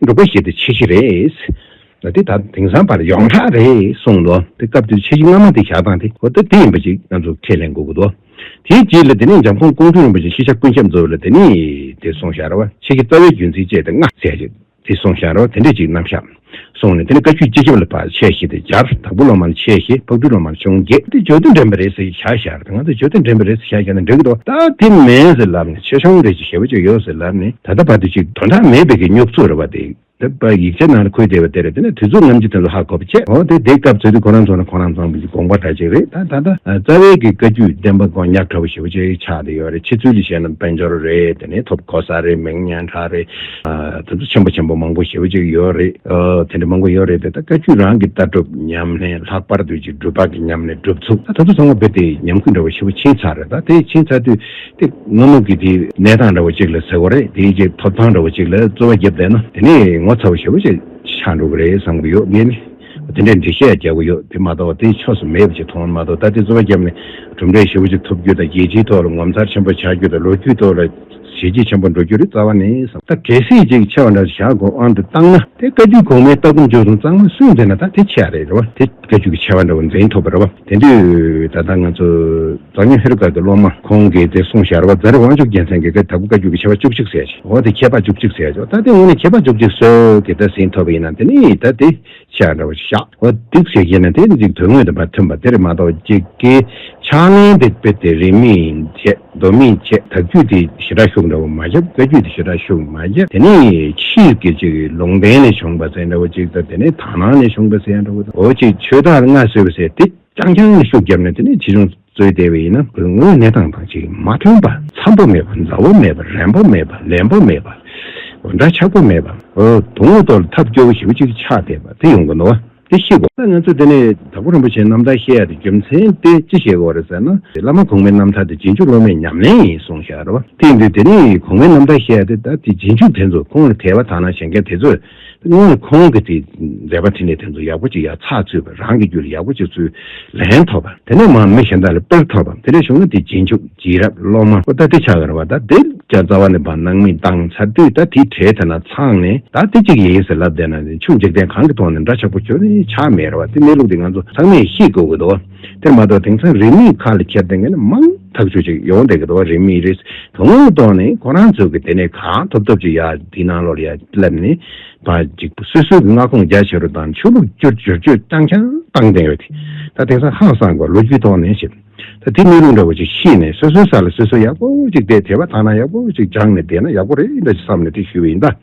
འབྲུག་པ་བཞི་དེ་ཆེ་བཞི་རེད། འདི་ད་དེང་སང་བར་ཡོངས་གྲགས་རེད་གསུང་འདུག་དེ་སྐབས་དེར་ཆེ་བཞི་སྔ་མ་དེ་བཞག་སྟངས་དེ་གོ་ཐབས་དེ་ཡིན་པ་ཅིག་ང་ཚོར་ཁས་ལེན་དགོས་ཀྱི་འདུག་དེའི་རྗེས་ལ་དེ་ནས་འཇམ་དཔོན་ཀོང་སྤྲུལ་རིན་པོ་ཆེ་ཤེས་བྱ་ཀུན་ཁྱབ་འཛོ་བས་ལ་དེ་ནི་དེ་གསུང་བཞག་ར་བ་ཆེ་བཞི་རྩ་བའི་རྒྱུ་མཚན་བཅས་དེ་སྔ་གསལ་བྱེད། དེ་སོང་ཤར་རོ་དེ་འདྲས་ཅིག་ནམ་ཤར། སོང་ནས་དེ་ནས་བཀའ་ཁྱུད་སྤྱི་ཁྱབ་ལ་ཕར་ཆས་ཞེས་དེ་སྦྱར། དྭགས་པོ་སློབ་མར་ཆས་ཞེས་ཕག་གྲུའི་སློབ་མར་ཆུང་བརྒྱད། འདི་ཇོ་དོན་དྲན་པའི་རེད་ཟེར་གྱི་ཤར་ཤར་དང་ང་ཚོ་ཇོ་དོན་དྲན་པའི་རེད་ཟེར་ཤར་ཤར་ནི་འགྲིག་གི་འདུག་ད་དེ་མེད་ཟེར་ལབ་ནས་ཆེ་ཆུང་རེད་ཅེས་ཞེ་བོ་ཅིག་ཡོད་ཟེར་ལབ་ནས་ད་ལྟ་བར་དུ་ཅིག། དོན་དག་མེད་པའི་གི་སྨྱུག་ཚུགས་རེ་བ་འདེགས། དེ་པ་ཡིག་ཆ་ནང་ལ་ཁུར་བསྡད་པ་དེ་རེད་དེ་ནས་དུས་ཚོད་ངམ་ཅི་ཐོན་ལ་ཧ་གོ་བ་ཆད་འོ་དེ་འདེགས་སྐབས་ཚོད་དུས་ཁོ་རང་ཚོ་ནི་ཁོ་རང་ཚང་གི་དགོངས་པ་འདྲ་ཅིག་རེད་ད་ད་ལྟ་རྩ་བའི་གི་བཀའ་ཁྱུད་བདེན་པ་མགོ་ཉག་ཕྲ་བོ་ཞེ་བོ་ཅིག་ཆགས་བསྡད་ཡོད་རེད་ཕྱི་ཚུལ་ལས་བཤད་ན་དཔལ་འབྱོར་རེད་དེ་ནས་ཐོབ་གོ་ས་རེད་མིང་སྙན་གྲགས་རེད་ད་ཚོ་ཆེན་པོ་ཆེན་པོ་མང་པོ་ཞེ་བོ་ཅིག་ཡོད་རེད། དེ་འདྲ་མང་པོ་ཡོད་རེད་དེ་དག་བཀའ་བརྒྱུད་རང་གི་ལྟ་གྲུབ་ཉམས་ལེན་ལྷག་པར་དུ་གཅིག་སྒྲུབ་པ་གི་ཉམས་ལེན་སྒྲུབ་ཚུལ་ད་ཚོ་ཚང་མ་བོད་དེ་ཉམས་རྒུད་འདྲ་བོ་ཞེ་བོ་ཕྱིན་ཚར་རེད་ད་དེ་ཕྱིན་ཚར་དུས་དེ་སྔ་མོ་གི་དེ་གནས་སྟངས་འདྲ་བོ་ཅིག་ལ་ཟེར་བ་རེད་དེའི་རྗེས་ཐོབ་ཐང་འདྲ་བོ་ཅིག་ལ་རྩོལ་བ་བརྒྱབ་བསྡད་ན་དེ་ནས་ངོ་ཚ་བོ་ཞེ་བོ་ཅིག་ཆགས་འགྲོ་གི་རེད་བསམ་གི་ཡོད་ངས་ནི་དེ་འདྲའི་འགྲེལ་བཤད་རྒྱག་གི་ཡོད་དེ་མ་གཏོགས་དེ་ཕྱོགས་སུ་མེད་པ་ཅིག་མཐོང་མ་གཏོགས་ད་དེ་རྩོལ་བ་བརྒྱབ་ནས་གྲུབ་འབྲས་ཞེ་བོ་ཅིག་ཐོབ་རྒྱུ་དང་རྒྱལ་སྤྱིའི་ཐོག་ལ་ངོ་མཚར་ཆེན་པོ་ཆགས་རྒྱུ་དང་ལོ་རྒྱུས་ཐོག་ལ། ཞལ་གྱིས་བྱམས་པ་འགྲོ་རྒྱུར་རྩ་བ་ནས། ད་གལ་སྲིད་ཅིག་ཆེ་བ་འདྲ་བཞག་དགོས་དབང་དུ་བཏང་ན། དེ་བཀའ་རྒྱུད་གོང་མའི་ལྟ་སྒོམ་སྤྱོད་གསུམ་གཙང་མ་སུས་འཛིན་ན་ད་དེ་ཆེ་བ་རེད་རེད་བ། དེ་བཀའ་རྒྱུད་ཀྱི་ཆེ་བ་འདྲ་བོ་འཛིན་ཐུབ་པ་རེད་བ། དེ་དུས་ད་ལྟ་ང་ཚོ་མཛངས་སྙོ་ཧེ་རུ་ཀ་གི་སློབ་མ་ཁོང་གིས་དེ་གསུངས་ཞར་བ་རྫ་རི་དབང་ཕྱུག་རྒྱལ་མཚན་གྱིས་ཀ་ད་གུ་བཀའ་རྒྱུད་ཀྱི་ཆེ་བ་བཅུ་གཅིག་ཟེར་ཞིང་འོ་དེ་ཁྱད་པར་བཅུ་གཅིག་ཟེར་ཆོག་ད་དེ་ངོ་ནས་ཁྱད་པར་བཅུ་གཅིག་སོས་ཀྱི་ད་ཟིན་ཐུབ་པ་ཡིན་ནམ་དེ་ནི་ད་དེ་བྱས་འདྲ་བ་ཞིག་བཞག་ཨོ་སྡིག་ཞེས་བཤད་ན་དེ་འཇིག་དོན་དངོས་དང་མ་མཐུན་པ་དེར་མ་གཏོགས་འཇིག་གི་ཕྱག་ལེན་དེ་དཔེ་དེ་རིན་མི་ཆེ་འདོན་མི་ཆེ་དག་རྒྱུད་དེ་ཞེ་དྲག་ཤུགས་འདྲ་བོ་མ་བཞག་བཀའ་རྒྱུད་དེ་ཞེ་དྲག་ཤུགས་མ་བཞག་དེ་ནི་ཕྱིས་དགེ་བྱེད་ཀྱི་ལུང་བསྟན་ནས་བྱུང་བ་ཟེར་འདྲ་བོ་ཅིག་དང་དེ་ནི་དག་སྣང་ནས་བྱུང་བ་ཟེར་འདྲ་བོ་དང་འོ་ཅིག་ཆོས་དར་སྔ་སོས་པ་ཟེར་དེ་རྐྱང་རྐྱང་ནས་ཤུགས་བརྒྱབ་ན་དེ་ནི་ཇི་བྱུང། རྩོད་བདེ་བས་ན་དགོས་དངོས་གནས་དང་དང་གཅིག་མ་མཐུན་པ། འཚམ་པོ་མེད་པ་མཛའ་བོ་མེད་པ་རན་པོ་མེད་པ་ལེན་པོ་མེད་པ། འདྲ་ཆགས་པོ་མེད་པ། དུག་ངོ་གཏོར་ལ་ཐབས་སྐྱོ་བོ་ཞིག་གཅིག་ཆགས་བསྡད་པ་དེ་ཡོང་གི་འདུག་དེ་ཤི་གོ། ང་ཚོས་དེ་ནས་དྭགས་པོ་རིན་པོ་ཆེ་རྣམ་ཐར་བཤད་ཡ་དེ་རྒྱུ་མཚན་དེ་ཅི་བཤད་གི་འོ་རེད་ཟེར་ན། བླ་མ་གོང་མའི་རྣམ་ཐར་དེ་རྗེས་འཇུག་སློབ་མའི་ཉམས་ལེན་ཡིན་གསུངས་ཤག་རེད་བ། དེ་ཡིན་དུས་དེ་ནས་གོང་མའི་རྣམ་ཐར་བཤད་ཡ་དེ་ད་དེ་རྗེས་འཇུག་དེ་ཚོ་ཁོང་ལ་ཐལ་བ་དག་ན་བྱེད་མཁན་དེ་ཚོས་སྔོན་ལ་ཁོང་གིས་དེའི་མཛད་པ་བྲིས་ནས་དེ་ཚོ་ཡག་པོ་ཅིག་ཡག་ཚགས་ཚུད་པ་རང་གི་རྒྱུད་ལ་ཡག་པོ་ཅིག་ཚུད་ལན་ཐོབ་པ་དེ་ནས་མང་མི་གཞན་དག་ལ་དཔེར་ཐོབ་བམ་དེ་ལས་བྱུང་ན་དེ་རྗེས་འཇུག་རྗེས་རབས་སློབ་མ་པོ་ད་དེ་ཆགས་ཀར་བ་ད་དེ་བྱ་རྩ་བ་ནས་བར་སྣང་མི་འདང་ཚར་དུས་ད་དེའི་གྲས་དེ་ན་ཚང་ནས་ད་དེ་གཅིག་ཡིན་ཟེར་ལབ་བསྡད་ན་ཆུ་འཇིག་རྟེན་གང་གི་ཐོག་ནས་འདྲ་ཆགས་པོ་ཁྱོད་ཆགས་མེད་ར་བ་དེ་གནས་ལུགས་དེ་ང་ཚོ་ཚང་མས་ཤེས་དགོས་ཀྱི་འདུག། དེར་མ་གཏོགས་དེང་སང་རིས་མེད་ཁ་ལ་འཁྱེར་ཏེ་མཁན་མང་ཐག་ཆོད་ཅིག་ཡོང་བསྡད་ཀྱི་འདུག་བ་རིས་མེད་རེད་དོ་ངོ་གཏོགས་ནས་ཁོ་རང་ཚོ་གི་དེ་ནས་ག་ཐོབ་ཐོབ་ཅིག་ཡ་དེའི་ནང་ལོར་ཡ་སླེབས་ནས་བ་ཅིག་སུས་སུས་ཀྱི་མངའ་ཁོངས་རྒྱ་ཆེ་རུ་དང་ཆོས་ལུགས་བསྐྱུར་བསྒྱུར་བཅོས་བཏང་ཀྱང་བཏང་བསྡད་ཡོད་དེ་ད་དེང་སང་ཧང་སངས་གོ་ལོ་རྒྱུས་ཐོག་ནས་ཞིབ་ད་དེ་གནས་ལུགས་འདྲ་བ་ཅིག་ཤེས་ནས་སོ་སོའི་ས་ལ་སོ་སོས་ཡག་པོ་ཅིག་བསྡད་དེ་བ་ཐང་ན་ཡག་པོ་ཅིག་སྦྱངས་ནས་བསྡད་ན་ཡག་པོ་རེད་འདྲ་ཅིག་བསམ་ནས་དེ་ཞུས་བ་ཡིན་ད།